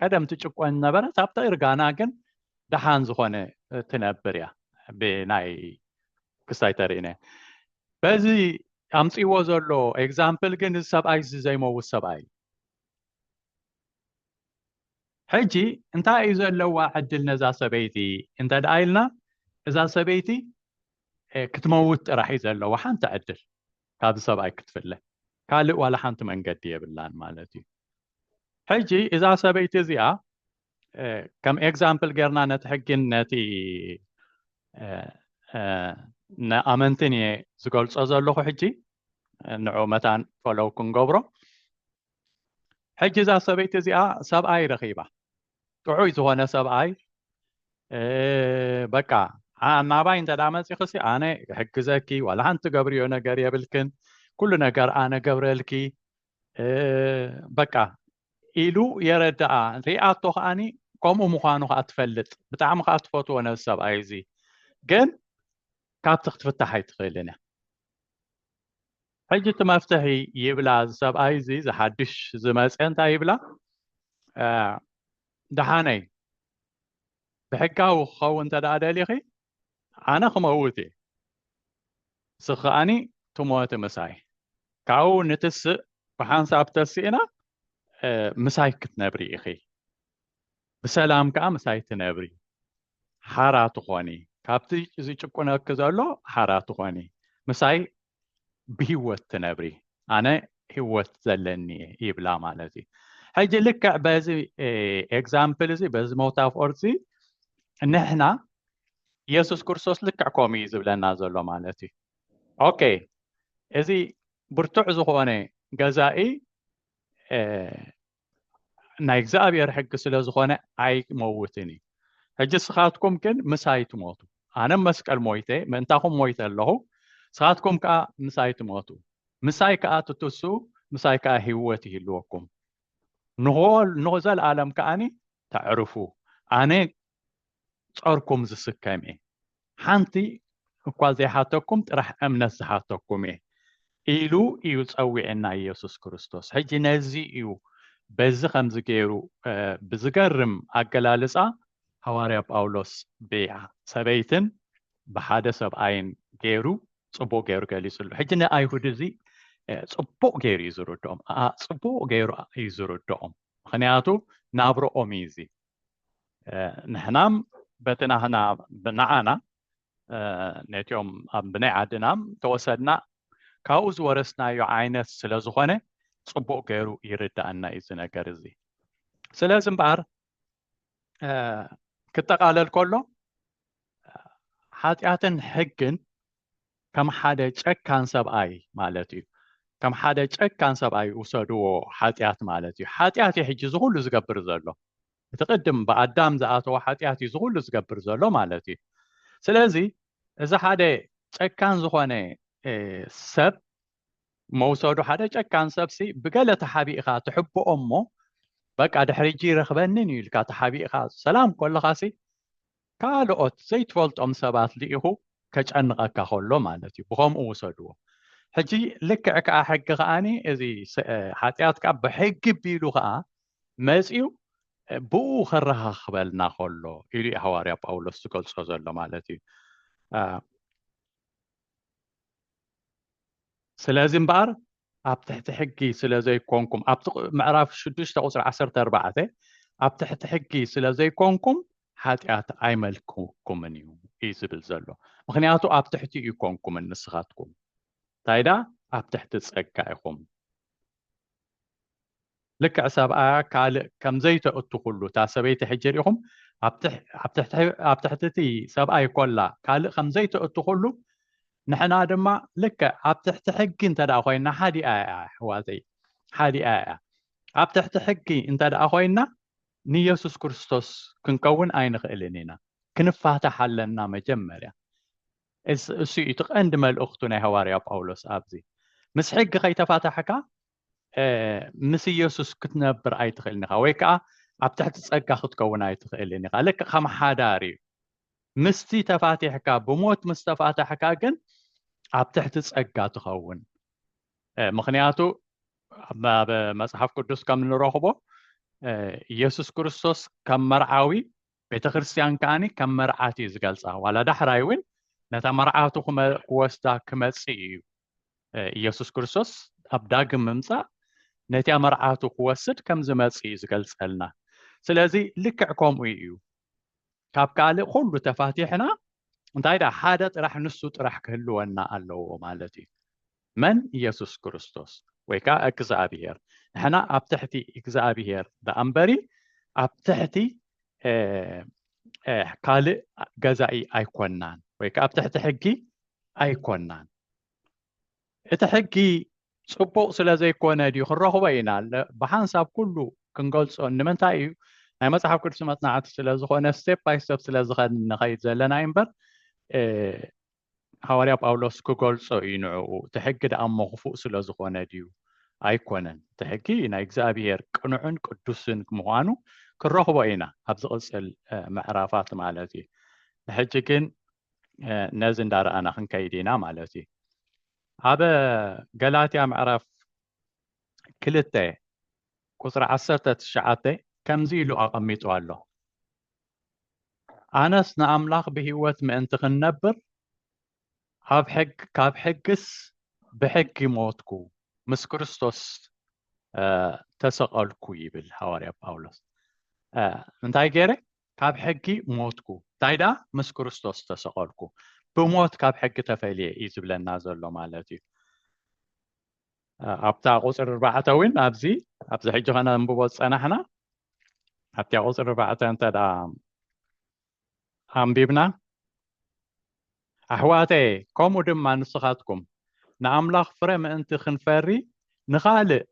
ቀደም ትጭቆን ነበረት ኣብቲ እርጋና ግን ደሓን ዝኾነ ትነብር እያ ብናይ ክስታይ ተርእነ በዚ ኣምፅዎ ዘሎ ኤግዛምፕል ግን እዚ ሰብኣይ እዚ ዘይመውት ሰብኣይ ሕጂ እንታይ እዩ ዘለዋ ዕድል ነዛ ሰበይቲ እንተ ደኣ ኢልና እዛ ሰበይቲ ክትመውት ጥራሕ እዩ ዘለዋ ሓንቲ ዕድል ካብዚ ሰብኣይ ክትፍለ ካልእ ዋላ ሓንቲ መንገዲ የብላን ማለት እዩ ሕጂ እዛ ሰበይቲ እዚኣ ከም ኤግዛምፕል ጌርና ነቲ ሕጊን ነቲ ንኣመንትን እየ ዝገልጾ ዘለኹ ሕጂ ንዑ መታን ፈለው ክንገብሮ ሕጂ እዛ ሰበይቲ እዚኣ ሰብኣይ ረኺባ ጥዑይ ዝኾነ ሰብኣይ በቃ ናባይ እንተ መፂኽሲ ኣነ ሕግዘኪ ዋላ ሓንቲ ትገብርዮ ነገር የብልክን ኩሉ ነገር ኣነ ገብረልኪ በቃ ኢሉ የረድኣ ሪኣቶ ከዓኒ ከምኡ ምዃኑ ከዓ ትፈልጥ ብጣዕሚ ከዓ ትፈትዎ ነዚ ሰብኣይ እዚ ግን ካብቲ ክትፍታሕ ኣይትኽእልን እያ ሕጂ እቲ መፍትሒ ይብላ እዚ ሰብኣይ እዚ ዝሓድሽ ዝመፀ እንታይ ይብላ ደሓነይ ብሕጋዊ ክኸውን እንተ ደኣ ደሊኺ ኣነ ክመውት እየ ንስኺ ከኣኒ ትሞቲ ምሳይ ካብኡ ንትስእ ብሓንሳብ ተስእና ምሳይ ክትነብሪ ኢኺ ብሰላም ከዓ ምሳይ ትነብሪ ሓራ ትኾኒ ካብቲ ዝጭቁነኪ ዘሎ ሓራ ትኾኒ ምሳይ ብሂወት ትነብሪ ኣነ ሂወት ዘለኒ እየ ይብላ ማለት እዩ ሕጂ ልክዕ በዚ ኤግዛምፕል እዚ በዚ ሞታፎር እዚ ንሕና የሱስ ክርስቶስ ልክዕ ከምኡ እዩ ዝብለና ዘሎ ማለት እዩ ኦኬ እዚ ብርቱዕ ዝኾነ ገዛኢ ናይ እግዚኣብሔር ሕጊ ስለ ዝኾነ ኣይመውትን እዩ ሕጂ ስኻትኩም ግን ምሳይ ትሞቱ ኣነ መስቀል ሞይተ ምእንታኹም ሞይተ ኣለኹ ስኻትኩም ከዓ ምሳይ ትሞቱ ምሳይ ከዓ ትትሱ ምሳይ ከዓ ህይወት ይህልወኩም ንዘለኣለም ከዓኒ ተዕርፉ ኣነ ጸርኩም ዝስከም እየ ሓንቲ እኳ ዘይሓተኩም ጥራሕ እምነት ዝሓተኩም እየ ኢሉ እዩ ጸዊዕና ኢየሱስ ክርስቶስ ሕጂ ነዚ እዩ በዚ ከምዚ ገይሩ ብዝገርም ኣገላልጻ ሃዋርያ ጳውሎስ ብሰበይትን ብሓደ ሰብኣይን ገይሩ ጽቡቅ ገይሩ ገሊጽሉ ሕጂ ንኣይሁድ እዚ ጽቡቅ ገይሩ እዩ ዝርድኦም ጽቡቅ ገይሩ እዩ ዝርድኦም ምክንያቱ ናብረኦም እዩ እዚ ንሕናም በቲ ናህና ንዓና ነትኦም ኣብ ብናይ ዓድናም ተወሰድና ካብኡ ዝወረስናዮ ዓይነት ስለ ዝኾነ ጽቡቕ ገይሩ ይርዳእና እዩ እዚ ነገር እዚ ስለዚ እምበኣር ክጠቓለል ከሎ ሓጢኣትን ሕግን ከም ሓደ ጨካን ሰብኣይ ማለት እዩ ከም ሓደ ጨካን ሰብኣይ ውሰድዎ ሓጢኣት ማለት እዩ ሓጢኣት እዩ ሕጂ ዝኹሉ ዝገብር ዘሎ እቲ ቅድም ብኣዳም ዝኣተዎ ሓጢኣት እዩ ዝኹሉ ዝገብር ዘሎ ማለት እዩ ስለዚ እዚ ሓደ ጨካን ዝኾነ ሰብ መውሰዱ ሓደ ጨካን ሰብሲ ብገለ ተሓቢእኻ ትሕብኦ እሞ በቃ ድሕሪ እጂ ይረኽበንን እዩ ኢልካ ተሓቢእኻ ሰላም ኮለኻሲ ካልኦት ዘይትፈልጦም ሰባት ልኢኹ ከጨንቐካ ከሎ ማለት እዩ ብኸምኡ ውሰድዎ ሕጂ ልክዕ ከኣ ሕጊ ከኣኒ እዚ ሓጢኣት ከኣ ብሕጊ ቢሉ ከኣ መጺኡ ብኡ ከረኻኽበልና ከሎ ኢሉ ሃዋርያ ጳውሎስ ዝገልጾ ዘሎ ማለት እዩ ስለዚ እምበኣር ኣብ ትሕቲ ሕጊ ስለ ዘይኮንኩም ኣብቲ ምዕራፍ ሽዱሽተ ቁፅሪ ዓሰርተ ኣርባዕተ ኣብ ትሕቲ ሕጊ ስለ ዘይኮንኩም ሓጢኣት ኣይመልክኩምን እዩ እዩ ዝብል ዘሎ ምክንያቱ ኣብ ትሕቲ እዩ ኮንኩምን ንስኻትኩም እንታይ ዳ ኣብ ትሕቲ ፀጋ ኢኹም ልክዕ ሰብኣያ ካልእ ከም ዘይተእትኹሉ እታ ሰበይቲ ሕጂ ርኢኹም ኣብ ትሕቲ እቲ ሰብኣይ ኮላ ካልእ ከም ዘይተእትኹሉ ንሕና ድማ ልክዕ ኣብ ትሕቲ ሕጊ እንተ ኮይና ሓዲኣ እያ ኣሕዋተይ ሓዲኣ እያ ኣብ ትሕቲ ሕጊ እንተ ኮይና ንየሱስ ክርስቶስ ክንከውን ኣይንኽእልን ኢና ክንፋታሕ ኣለና መጀመርያ እሱ እዩ እቲ ቀንዲ መልእኽቱ ናይ ሃዋርያ ጳውሎስ ኣብዚ ምስ ሕጊ ከይተፋታሕካ ምስ ኢየሱስ ክትነብር ኣይትኽእልን ኢኻ ወይ ከዓ ኣብ ትሕቲ ጸጋ ክትከውን ኣይትኽእልን ኢኻ ልክ ከም ሓዳር እዩ ምስቲ ተፋቲሕካ ብሞት ምስ ተፋታሕካ ግን ኣብ ትሕቲ ጸጋ ትኸውን ምክንያቱ ኣብ መጽሓፍ ቅዱስ ከም ንረኽቦ ኢየሱስ ክርስቶስ ከም መርዓዊ ቤተ ክርስትያን ከዓኒ ከም መርዓት እዩ ዝገልጻ ዋላ ዳሕራይ እውን ነታ መርዓቱ ክወስዳ ክመጽእ እዩ ኢየሱስ ክርስቶስ ኣብ ዳግም ምምጻእ ነቲ ኣመርዓቱ ክወስድ ከም ዝመጽእ እዩ ዝገልጸልና ስለዚ ልክዕ ከምኡ እዩ ካብ ካልእ ኩሉ ተፋቲሕና እንታይ ደኣ ሓደ ጥራሕ ንሱ ጥራሕ ክህልወና ኣለዎ ማለት እዩ መን ኢየሱስ ክርስቶስ ወይ ከዓ እግዚኣብሄር ንሕና ኣብ ትሕቲ እግዚኣብሄር ደኣ እምበሪ ኣብ ትሕቲ ካልእ ገዛኢ ኣይኮናን ወይ ከዓ ኣብ ትሕቲ ሕጊ ኣይኮናን እቲ ሕጊ ፅቡቅ ስለ ዘይኮነ ድዩ ክንረኽቦ ኢና ብሓንሳብ ኩሉ ክንገልፆ ንምንታይ እዩ ናይ መፅሓፍ ቅዱስ መፅናዕቲ ስለ ዝኾነ ስቴፕ ባይ ስቴፕ ስለ ዝኸድ ንኸይድ ዘለና እዩ እምበር ሃዋርያ ጳውሎስ ክገልጾ እዩ ንዕኡ እቲ ሕጊ ደኣ እሞ ክፉእ ስለ ዝኾነ ድዩ ኣይኮነን እቲ ሕጊ ናይ እግዚኣብሄር ቅኑዕን ቅዱስን ምዃኑ ክንረኽቦ ኢና ኣብ ዝቕፅል ምዕራፋት ማለት እዩ ንሕጂ ግን ነዚ እንዳረኣና ክንከይድ ኢና ማለት እዩ ኣብ ገላትያ ምዕራፍ ክልተ ቁፅሪ ዓሰርተ ትሽዓተ ከምዚ ኢሉ ኣቐሚጡ ኣሎ ኣነስ ንኣምላኽ ብህይወት ምእንቲ ክንነብር ኣብ ሕግ ካብ ሕግስ ብሕጊ ሞትኩ ምስ ክርስቶስ ተሰቐልኩ ይብል ሃዋርያ ጳውሎስ እንታይ ገይረ ካብ ሕጊ ሞትኩ ታይ ደኣ ምስ ክርስቶስ ተሰቀልኩ ብሞት ካብ ሕጊ ተፈልየ እዩ ዝብለና ዘሎ ማለት እዩ ኣብታ ቁፅሪ ኣርባዕተ እውን ኣብዚ ኣብዚ ሕጂ ከነንብቦ ዝፀናሕና ኣብቲያ ቁፅሪ ኣርባዕተ እንተ ኣንቢብና ኣሕዋተየ ከምኡ ድማ ንስኻትኩም ንኣምላኽ ፍረ ምእንቲ ክንፈሪ ንኻልእ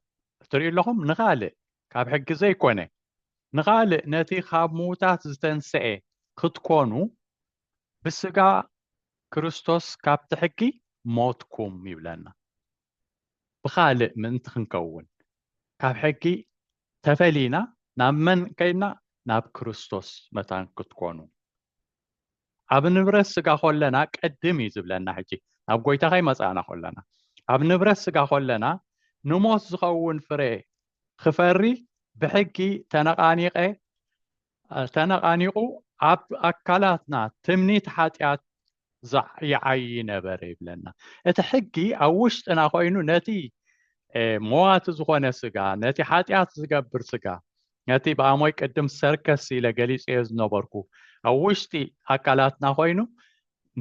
እትሪኡ ኣለኹም ንኻልእ ካብ ሕጊ ዘይኮነ ንኻልእ ነቲ ኻብ ምዉታት ዝተንስኤ ኽትኰኑ ብስጋ ክርስቶስ ካብቲ ሕጊ ሞትኩም ይብለና። ብኻልእ ምእንቲ ኽንከውን ካብ ሕጊ ተፈሊና ናብ መን ከይድና ናብ ክርስቶስ መታን ክትኰኑ ኣብ ንብረት ስጋ ኮለና ቅድም እዩ ዝብለና ሕጂ ናብ ጎይታ ከይመፃእና ኮለና ኣብ ንብረት ስጋ ኮለና ንሞት ዝኸውን ፍረ ክፈሪ ብሕጊ ተነቃኒቀ ተነቃኒቁ ኣብ ኣካላትና ትምኒት ሓጢኣት ይዓዪ ነበረ ይብለና እቲ ሕጊ ኣብ ውሽጥና ኮይኑ ነቲ መዋቲ ዝኾነ ስጋ ነቲ ሓጢኣት ዝገብር ስጋ ነቲ ብኣሞይ ቅድም ሰርከስ ኢለ ገሊፀዮ ዝነበርኩ ኣብ ውሽጢ ኣካላትና ኮይኑ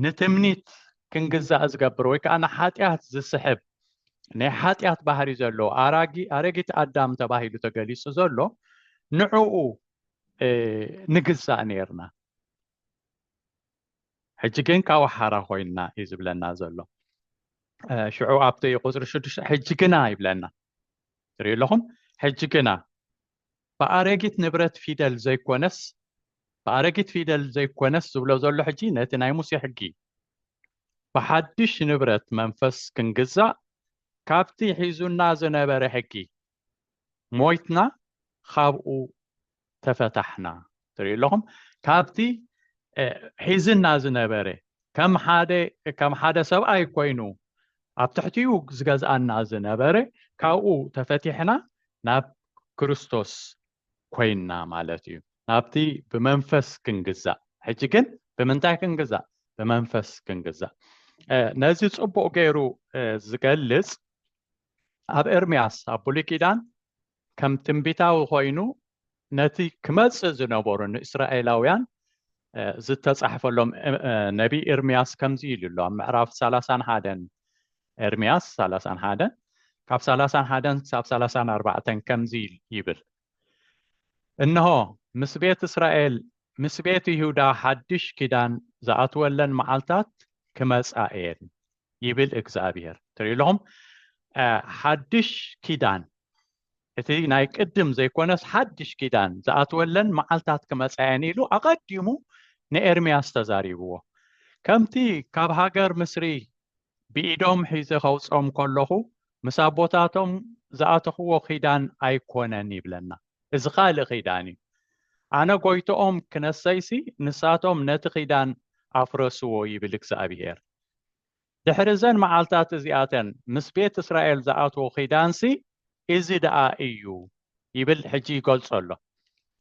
ንትምኒት ክንግዛእ ዝገብር ወይ ከዓ ንሓጢኣት ዝስሕብ ናይ ሓጢኣት ባህሪ ዘለዎ ኣራጊ ኣረጊት ኣዳም ተባሂሉ ተገሊጹ ዘሎ ንዕኡ ንግዛእ ነርና ሕጂ ግን ካብኡ ሓራ ኮይንና እዩ ዝብለና ዘሎ ሽዑ ኣብቲ እዩ ቁፅሪ ሽዱሽተ ሕጂ ግና ይብለና ትሪኡ ኣለኹም ሕጂ ግና ብኣረጊት ንብረት ፊደል ዘይኮነስ ብኣረጊት ፊደል ዘይኮነስ ዝብሎ ዘሎ ሕጂ ነቲ ናይ ሙሴ ሕጊ ብሓድሽ ንብረት መንፈስ ክንግዛእ ካብቲ ሒዙና ዝነበረ ሕጊ ሞይትና ካብኡ ተፈታሕና ትሪኡ ኣለኹም ካብቲ ሒዝና ዝነበረ ከም ሓደ ከም ሓደ ሰብኣይ ኮይኑ ኣብ ትሕቲኡ ዝገዝኣና ዝነበረ ካብኡ ተፈቲሕና ናብ ክርስቶስ ኮይንና ማለት እዩ ናብቲ ብመንፈስ ክንግዛእ ሕጂ ግን ብምንታይ ክንግዛእ ብመንፈስ ክንግዛእ ነዚ ፅቡቅ ገይሩ ዝገልፅ ኣብ ኤርምያስ ኣብ ብሉይ ኪዳን ከም ትንቢታዊ ኮይኑ ነቲ ክመጽእ ዝነበሩ ንእስራኤላውያን ዝተጻሕፈሎም ነቢይ ኤርምያስ ከምዚ ኢሉ ኣሎ ኣብ ምዕራፍ ሰላሳን ሓደን ኤርምያስ ሰላሳን ሓደን ካብ ሰላሳን ሓደን ክሳብ ሰላሳን ኣርባዕተን ከምዚ ይብል እንሆ ምስ ቤት እስራኤል ምስ ቤት ይሁዳ ሓድሽ ኪዳን ዝኣትወለን መዓልታት ክመጻ እየን ይብል እግዝኣብሄር ትርኢለኹም ሓድሽ ኪዳን እቲ ናይ ቅድም ዘይኮነስ ሓድሽ ኪዳን ዝኣትወለን መዓልታት ክመፃየን ኢሉ ኣቐዲሙ ንኤርምያስ ተዛሪብዎ ከምቲ ካብ ሃገር ምስሪ ብኢዶም ሒዘ ከውፅኦም ከለኹ ምስ ኣቦታቶም ዝኣተኽዎ ኪዳን ኣይኮነን ይብለና እዚ ካልእ ኪዳን እዩ ኣነ ጎይቶኦም ክነሰይሲ ንሳቶም ነቲ ኪዳን ኣፍረስዎ ይብል እግዚኣብሄር ድሕሪ እዘን መዓልታት እዚኣተን ምስ ቤት እስራኤል ዝኣትዎ ኺዳንሲ እዚ ደኣ እዩ ይብል ሕጂ ይገልጾ ኣሎ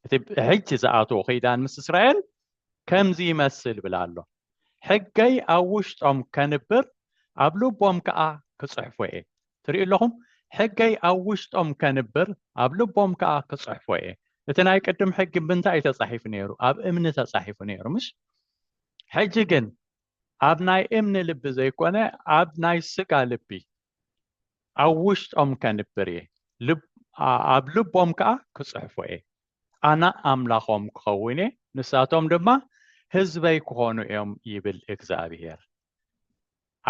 እቲ ሕጂ ዝኣትዎ ኺዳን ምስ እስራኤል ከምዚ ይመስል ይብል ኣሎ ሕገይ ኣብ ውሽጦም ከንብር ኣብ ልቦም ከኣ ክጽሕፎ እየ ትሪኡ ኣለኹም ሕገይ ኣብ ውሽጦም ከንብር ኣብ ልቦም ከኣ ክጽሕፎ እየ እቲ ናይ ቅድም ሕጊ ብምንታይ እዩ ተጻሒፉ ነይሩ ኣብ እምኒ ተጻሒፉ ነይሩ ምሽ ሕጂ ግን ኣብ ናይ እምኒ ልቢ ዘይኮነ ኣብ ናይ ስጋ ልቢ ኣብ ውሽጦም ከንብር እየ፣ ኣብ ልቦም ከኣ ክጽሕፎ እየ። ኣነ ኣምላኾም ክኸውን እየ፣ ንሳቶም ድማ ህዝበይ ክኾኑ እዮም ይብል እግዚኣብሄር።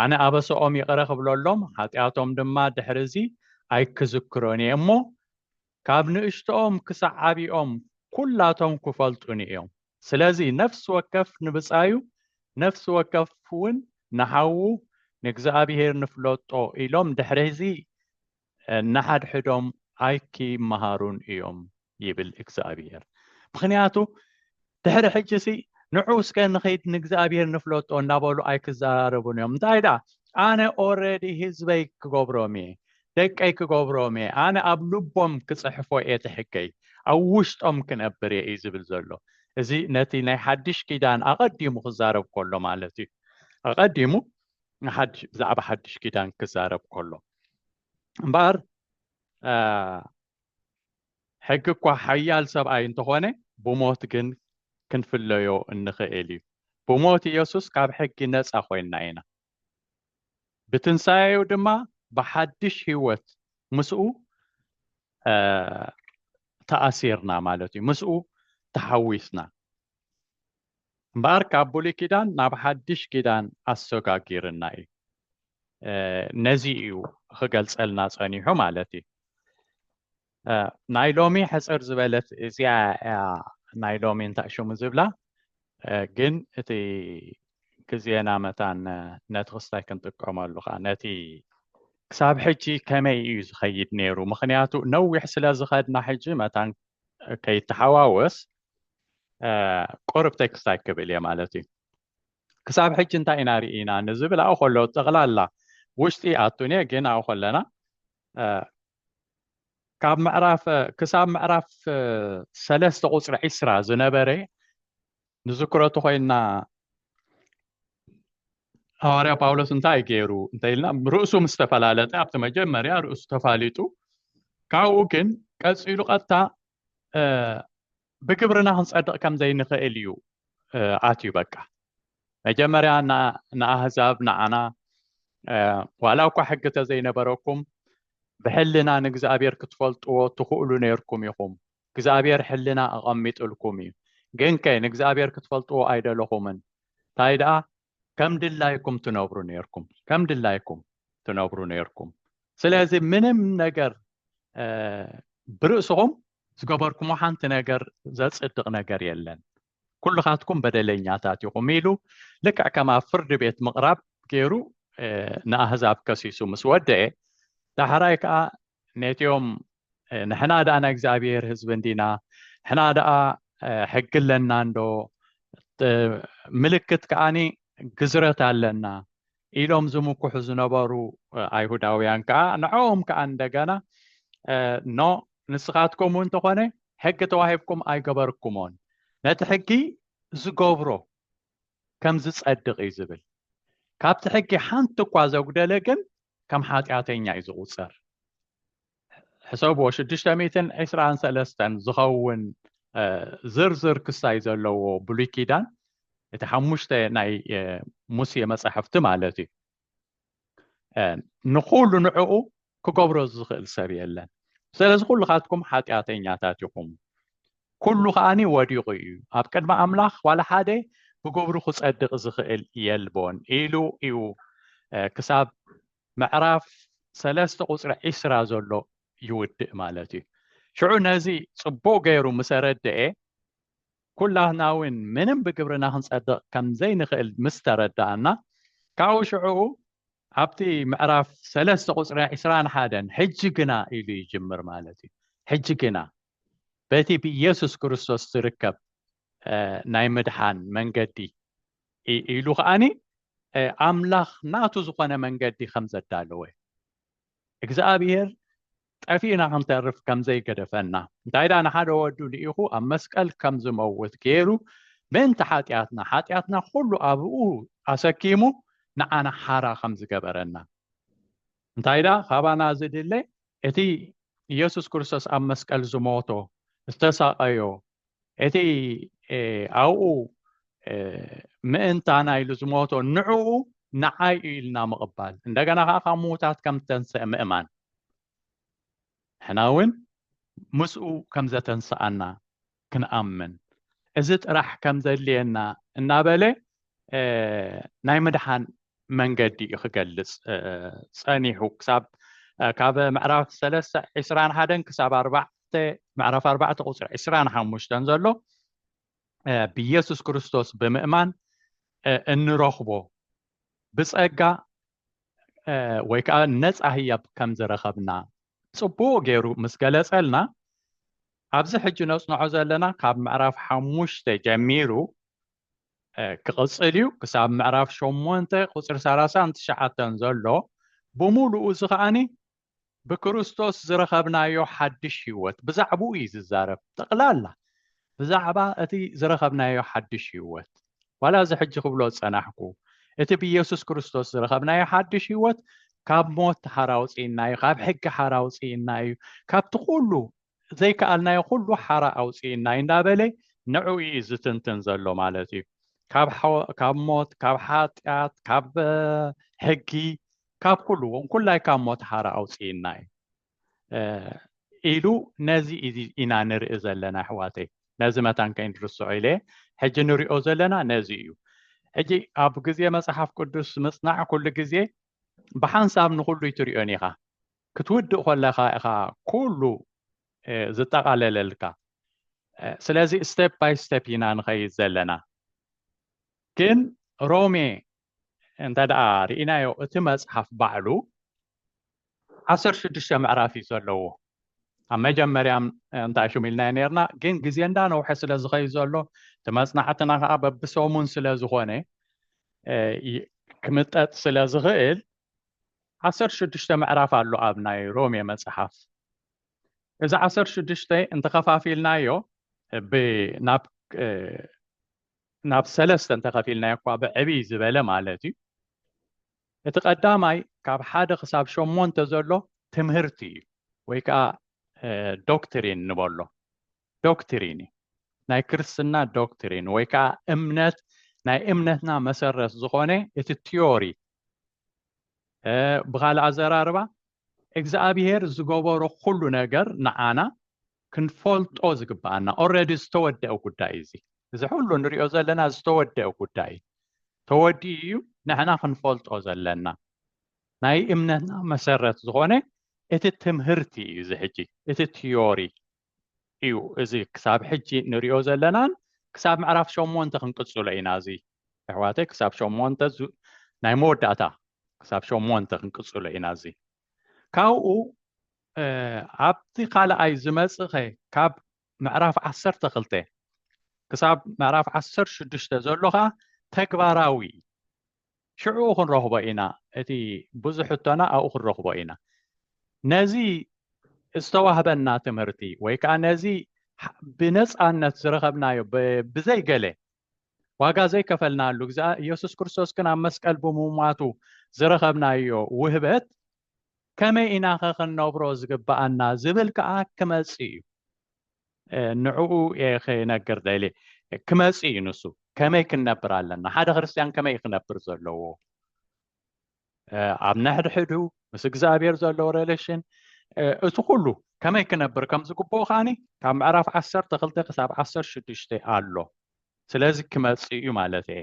ኣነ ኣበሰኦም ይቕረ ክብለሎም፣ ሓጢኣቶም ድማ ድሕርዚ ኣይክዝክሮን እየ እሞ፣ ካብ ንእሽቶኦም ክሳዕ ዓቢኦም ኩላቶም ክፈልጡኒ እዮም። ስለዚ ነፍሲ ወከፍ ንብጻዩ ነፍሲ ወከፍ ውን ንሓዉ ንእግዚኣብሄር ንፍለጦ ኢሎም ድሕሪዚ ንሓድሕዶም ኣይኪመሃሩን እዮም ይብል እግዚኣብሄር። ምኽንያቱ ድሕሪ ሕጂሲ ንዑ እስከ ንኺድ ንእግዚኣብሔር ንፍለጦ እናበሉ ኣይክዘራረቡን እዮም እንታይ ደኣ ኣነ ኦረዲ ህዝበይ ክገብሮም እየ ደቀይ ክገብሮም እየ ኣነ ኣብ ልቦም ክፅሕፎ እየ ትሕገይ ኣብ ውሽጦም ክነብር እየ እዩ ዝብል ዘሎ እዚ ነቲ ናይ ሓድሽ ኪዳን ኣቐዲሙ ክዛረብ ከሎ ማለት እዩ ኣቐዲሙ ብዛዕባ ሓድሽ ኪዳን ክዛረብ ከሎ እምበኣር ሕጊ እኳ ሓያል ሰብኣይ እንተኾነ ብሞት ግን ክንፍለዮ እንኽእል እዩ። ብሞት ኢየሱስ ካብ ሕጊ ነጻ ኮይንና ኢና። ብትንሣኤኡ ድማ ብሓድሽ ሕይወት ምስኡ ተኣሲርና ማለት እዩ። ምስኡ ተሓዊስና። እምበኣር ካብ ብሉይ ኪዳን ናብ ሓድሽ ኪዳን ኣሰጋጊርና እዩ። ነዚ እዩ ክገልጸልና ጸኒሑ ማለት እዩ። ናይ ሎሚ ሕፅር ዝበለት እዚኣ እያ ናይ ሎሚ እንታይ ሽሙ ዝብላ ግን እቲ ግዜና መታን ነቲ ክስታይ ክንጥቀመሉ ከዓ ነቲ ክሳብ ሕጂ ከመይ እዩ ዝኸይድ ነይሩ ምክንያቱ ነዊሕ ስለ ዝኸድና ሕጂ መታን ከይተሓዋወስ ቁርብ ቴክስታይ ክብል እየ ማለት እዩ ክሳብ ሕጂ እንታይ ኢና ርኢና ንዝብል ኣብኡ ከሎ ጠቕላላ ውሽጢ ኣቱን እየ ግን ኣብኡ ከለና ካብ ምዕራፍ ክሳብ ምዕራፍ ሰለስተ ቁፅሪ ዒስራ ዝነበረ ንዝክሮ ተኮይንና ሃዋርያ ጳውሎስ እንታይ ገይሩ እንተኢልና ርእሱ ምስ ተፈላለጠ ኣብቲ መጀመርያ ርእሱ ተፋሊጡ ካብኡ ግን ቀፂሉ ቀጥታ ብግብርና ክንጸድቕ ከም ዘይንኽእል እዩ ኣትዩ በቃ መጀመርያ ንኣህዛብ ንዓና ዋላ እኳ ሕጊ ተዘይነበረኩም ብሕልና ንእግዚኣብሔር ክትፈልጥዎ ትኽእሉ ነርኩም ኢኹም እግዚኣብሔር ሕልና ኣቐሚጥልኩም እዩ ግን ከ ንእግዚኣብሔር ክትፈልጥዎ ኣይደለኹምን እንታይ ደኣ ከም ድላይኩም ትነብሩ ነርኩም ከም ድላይኩም ትነብሩ ነርኩም ስለዚ ምንም ነገር ብርእስኹም ዝገበርኩሞ ሓንቲ ነገር ዘፅድቕ ነገር የለን ኩልኻትኩም በደለኛታት ኢኹም ኢሉ ልክዕ ከም ኣብ ፍርዲ ቤት ምቕራብ ገይሩ ንኣህዛብ ከሲሱ ምስ ወደአ ዳሕራይ ከዓ ነትኦም ንሕና ደኣ ናይ እግዚኣብሔር ህዝቢ እንዲና ንሕና ደኣ ሕጊ ኣለና እንዶ ምልክት ከዓኒ ግዝረት ኣለና ኢሎም ዝምኩሑ ዝነበሩ ኣይሁዳውያን ከዓ ንዕኦም ከዓ እንደገና ኖ ንስኻትኩም እውን ተኾነ ሕጊ ተዋሂብኩም ኣይገበርኩሞን ነቲ ሕጊ ዝገብሮ ከም ዝጸድቕ እዩ ዝብል። ካብቲ ሕጊ ሓንቲ እኳ ዘጉደለ ግን ከም ሓጢኣተኛ እዩ ዝቑጸር። ሕሰብዎ ሽዱሽተ ሚእትን ዕስራን ሰለስተን ዝኸውን ዝርዝር ክሳይ ዘለዎ ብሉይ ኪዳን እቲ ሓሙሽተ ናይ ሙሴ መጻሕፍቲ ማለት እዩ ንኹሉ ንዕኡ ክገብሮ ዝኽእል ሰብ የለን ስለዚ ኩልኻትኩም ሓጢኣተኛታት ኢኹም ኩሉ ከዓኒ ወዲቑ እዩ ኣብ ቅድሚ ኣምላኽ ዋላ ሓደ ብግብሩ ክጸድቕ ዝኽእል የልቦን ኢሉ እዩ ክሳብ ምዕራፍ ሰለስተ ቁፅሪ ዒስራ ዘሎ ይውድእ ማለት እዩ ሽዑ ነዚ ጽቡቕ ገይሩ ምሰረድአ ኩላትና'ውን ምንም ብግብርና ክንጸድቕ ከም ዘይንኽእል ምስ ተረዳኣና፣ ካብኡ ሽዑኡ ኣብቲ ምዕራፍ ሰለስተ ቁጽሪ ዕስራን ሓደን ሕጂ ግና ኢሉ ይጅምር ማለት እዩ። ሕጂ ግና በቲ ብኢየሱስ ክርስቶስ ዝርከብ ናይ ምድሓን መንገዲ ኢሉ ከኣኒ ኣምላኽ ናቱ ዝኾነ መንገዲ ከም ዘዳለወ እዩ። እግዚኣብሔር ጠፊእና ክንተርፍ ከም ዘይገደፈና፣ እንታይ ደኣ ንሓደ ወዱ ልኢኹ ኣብ መስቀል ከም ዝመውት ገይሩ ምእንቲ ሓጢኣትና፣ ሓጢኣትና ኩሉ ኣብኡ ኣሰኪሙ ንዓና ሓራ ከም ዝገበረና፣ እንታይ ደኣ ካባና ዝድለ እቲ ኢየሱስ ክርስቶስ ኣብ መስቀል ዝሞቶ፣ ዝተሳቐዮ፣ እቲ ኣብኡ ምእንታና ኢሉ ዝሞቶ ንዕኡ ንዓይ እዩ ኢልና ምቕባል እንደገና ከዓ ካብ ምዉታት ከም ዝተንስአ ምእማን ንሕና እውን ምስኡ ከም ዘተንስኣና ክንኣምን እዚ ጥራሕ ከም ዘድልየና እናበለ ናይ ምድሓን መንገዲ እዩ ክገልፅ ፀኒሑ ክሳብ ካብ ምዕራፍ ሰለስተ ዕስራን ሓደን ክሳብ ኣርባዕ መጽሓፍተ ምዕራፍ ኣርባዕተ ቁፅሪ ዕስራን ሓሙሽተን ዘሎ ብኢየሱስ ክርስቶስ ብምእማን እንረኽቦ ብፀጋ ወይ ከዓ ነፃ ህያብ ከም ዝረኸብና ፅቡቅ ገይሩ ምስ ገለፀልና ኣብዚ ሕጂ ነፅንዖ ዘለና ካብ ምዕራፍ ሓሙሽተ ጀሚሩ ክቕፅል እዩ ክሳብ ምዕራፍ ሸሞንተ ቁፅሪ ሰላሳን ትሽዓተን ዘሎ ብምሉኡ እዚ ከዓኒ ብክርስቶስ ዝረኸብናዮ ሓድሽ ህይወት ብዛዕባኡ እዩ ዝዛረብ ጠቕላላ ብዛዕባ እቲ ዝረኸብናዮ ሓድሽ ህይወት ዋላ እዚ ሕጂ ክብሎ ዝጸናሕኩ እቲ ብኢየሱስ ክርስቶስ ዝረኸብናዮ ሓድሽ ህይወት ካብ ሞት ሓራ ውፅእና እዩ ካብ ሕጊ ሓራ ውፅእና እዩ ካብቲ ኩሉ ዘይከኣልናዮ ኩሉ ሓራ ኣውጽእናይ እንዳበለ ንዕኡ እዩ ዝትንትን ዘሎ ማለት እዩ ካብ ሞት ካብ ሓጢኣት ካብ ሕጊ ካብ ኩሉ ኩላይ ካብ ሞት ሓራ ኣውፅእናይ ኢሉ ነዚ ኢና ንርኢ ዘለና ኣሕዋተይ ነዚ መታን ከይንርስዖ ኢለ ሕጂ ንሪኦ ዘለና ነዚ እዩ ሕጂ ኣብ ግዜ መፅሓፍ ቅዱስ ምፅናዕ ኩሉ ግዜ ብሓንሳብ ንኩሉ ይትሪኦን ኢኻ ክትውድእ ኮለኻ ኢኻ ኩሉ ዝጠቓለለልካ ስለዚ ስቴፕ ባይ ስቴፕ ኢና ንኸይድ ዘለና ግን ሮሜ እንተ ደኣ ርኢናዮ እቲ መጽሓፍ ባዕሉ ዓሰርተ ሽዱሽተ ምዕራፍ እዩ ዘለዎ ኣብ መጀመርያ እንታይ ሹም ኢልና ነርና ግን ግዜ እንዳነውሐ ስለ ዝኸይ ዘሎ እቲ መፅናዕትና ከዓ በብሰሙን ስለ ዝኾነ ክምጠጥ ስለ ዝኽእል ዓሰርተ ሽዱሽተ ምዕራፍ ኣሎ ኣብ ናይ ሮሜ መጽሓፍ። እዚ ዓሰርተ ሽዱሽተ እንተኸፋፊልናዮ ናብ ናብ ሰለስተ እንተኸፊልናዮ እኳ ብዕብይ ዝበለ ማለት እዩ እቲ ቀዳማይ ካብ ሓደ ክሳብ ሸሞንተ ዘሎ ትምህርቲ እዩ ወይ ከዓ ዶክትሪን ንበሎ ዶክትሪን እዩ። ናይ ክርስትና ዶክትሪን ወይ ከዓ እምነት ናይ እምነትና መሰረት ዝኾነ እቲ ቲዮሪ ብኻልእ ኣዘራርባ እግዚኣብሄር ዝገበሮ ኩሉ ነገር ንዓና ክንፈልጦ ዝግብኣና ኦልሬዲ ዝተወደአ ጉዳይ እዚ እዚ ኩሉ ንሪኦ ዘለና ዝተወደአ ጉዳይ ተወዲኡ እዩ ንሕና ክንፈልጦ ዘለና ናይ እምነትና መሰረት ዝኾነ እቲ ትምህርቲ እዩ እዚ ሕጂ እቲ ቲዮሪ እዩ እዚ ክሳብ ሕጂ ንሪኦ ዘለናን ክሳብ ምዕራፍ ሸሞንተ ክንቅፅሎ ኢና እዚ ኣሕዋተይ ክሳብ ሸሞንተ ናይ መወዳእታ ክሳብ ሸሞንተ ክንቅፅሎ ኢና እዚ ካብኡ ኣብቲ ካልኣይ ዝመፅኸ ካብ ምዕራፍ ዓሰርተ ክልተ ክሳብ ምዕራፍ ዓሰርተ ሽዱሽተ ዘሎ ከዓ ተግባራዊ ሽዕኡ ክንረኽቦ ኢና እቲ ብዙሕ ሕቶና ኣብኡ ክንረኽቦ ኢና ነዚ ዝተዋህበና ትምህርቲ ወይ ከዓ ነዚ ብነፃነት ዝረኸብናዮ ብዘይገለ ዋጋ ዘይከፈልናሉ ግዛ ኢየሱስ ክርስቶስ ግን ኣብ መስቀል ብምሟቱ ዝረኸብናዮ ውህበት ከመይ ኢና ከ ክንነብሮ ዝግብኣና ዝብል ከዓ ክመፅእ እዩ ንዕኡ እየ ክነግር ደልየ ክመጽእ እዩ ንሱ ከመይ ክንነብር ኣለና ሓደ ክርስትያን ከመይ እዩ ክነብር ዘለዎ ኣብ ነሕድሕዱ ምስ እግዚኣብሔር ዘለዎ ሬሌሽን እቲ ኩሉ ከመይ ክነብር ከም ዝግብኦ ከዓኒ ካብ ምዕራፍ ዓሰርተ ክልተ ክሳብ ዓሰር ሽዱሽተ ኣሎ ስለዚ ክመፅእ እዩ ማለት እየ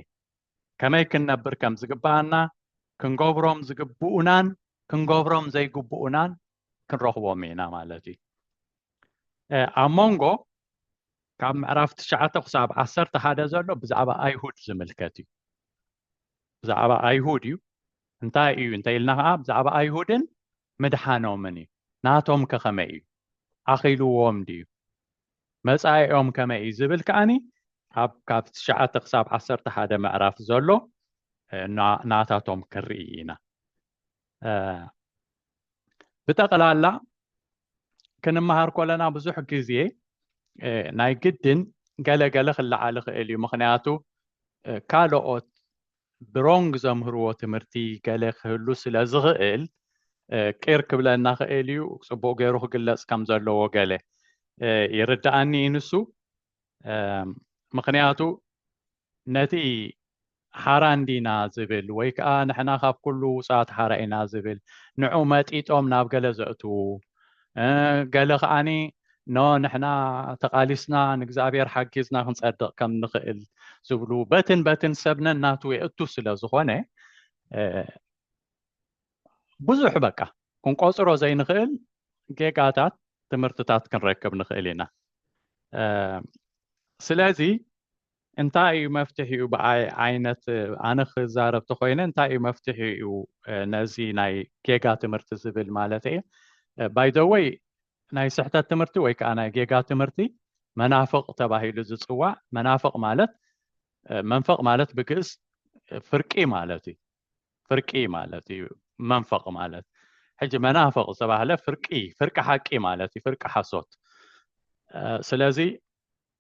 ከመይ ክንነብር ከም ዝግባኣና ክንገብሮም ዝግብኡናን ክንገብሮም ዘይግብኡናን ክንረኽቦም ኢና ማለት እዩ ኣብ መንጎ ካብ ምዕራፍ ትሽዓተ ክሳብ ዓሰርተ ሓደ ዘሎ ብዛዕባ ኣይሁድ ዝምልከት እዩ ብዛዕባ ኣይሁድ እዩ እንታይ እዩ እንተ ኢልና ከዓ ብዛዕባ ኣይሁድን ምድሓኖምን እዩ ናቶም ከኸመይ እዩ ኣኺልዎም ድዩ መፃኢኦም ከመይ እዩ ዝብል ከዓኒ ኣብ ካብ ትሽዓተ ክሳብ ዓሰርተ ሓደ ምዕራፍ ዘሎ ናታቶም ክንርኢ ኢና ብጠቕላላ ክንመሃር ኮለና ብዙሕ ግዜ ናይ ግድን ገለገለ ክለዓል ይኽእል እዩ ምክንያቱ ካልኦት ብሮንግ ዘምህርዎ ትምህርቲ ገለ ክህሉ ስለ ዝኽእል ቂር ክብለና ክእል እዩ ፅቡቅ ገይሩ ክግለፅ ከም ዘለዎ ገለ ይርዳኣኒ እዩ ንሱ ምክንያቱ ነቲ ሓራ እንዲና ዝብል ወይ ከዓ ንሕና ካብ ኩሉ ውፃት ሓራ ኢና ዝብል ንዑ መጢጦም ናብ ገለ ዘእትዉ ገለ ከዓኒ ኖ ንሕና ተቃሊስና ንእግዚኣብሔር ሓጊዝና ክንፀድቕ ከም ንኽእል ዝብሉ በትን በትን ሰብነን ናቱ የእቱ ስለ ዝኾነ ብዙሕ በቃ ክንቆፅሮ ዘይንኽእል ጌጋታት ትምህርትታት ክንረክብ ንኽእል ኢና ስለዚ እንታይ እዩ መፍትሒኡ ብኣይ ዓይነት ኣነ ክዛረብ ተኮይነ እንታይ እዩ መፍትሒኡ ነዚ ናይ ጌጋ ትምህርቲ ዝብል ማለት እየ ባይዘወይ ናይ ስሕተት ትምህርቲ ወይ ከዓ ናይ ጌጋ ትምህርቲ መናፍቕ ተባሂሉ ዝፅዋዕ መናፍቕ ማለት መንፈቕ ማለት ብግእዝ ፍርቂ ማለት እዩ ፍርቂ ማለት እዩ መንፈቕ ማለት ሕጂ መናፈቕ ዝተባህለ ፍርቂ ፍርቂ ሓቂ ማለት እዩ ፍርቂ ሓሶት ስለዚ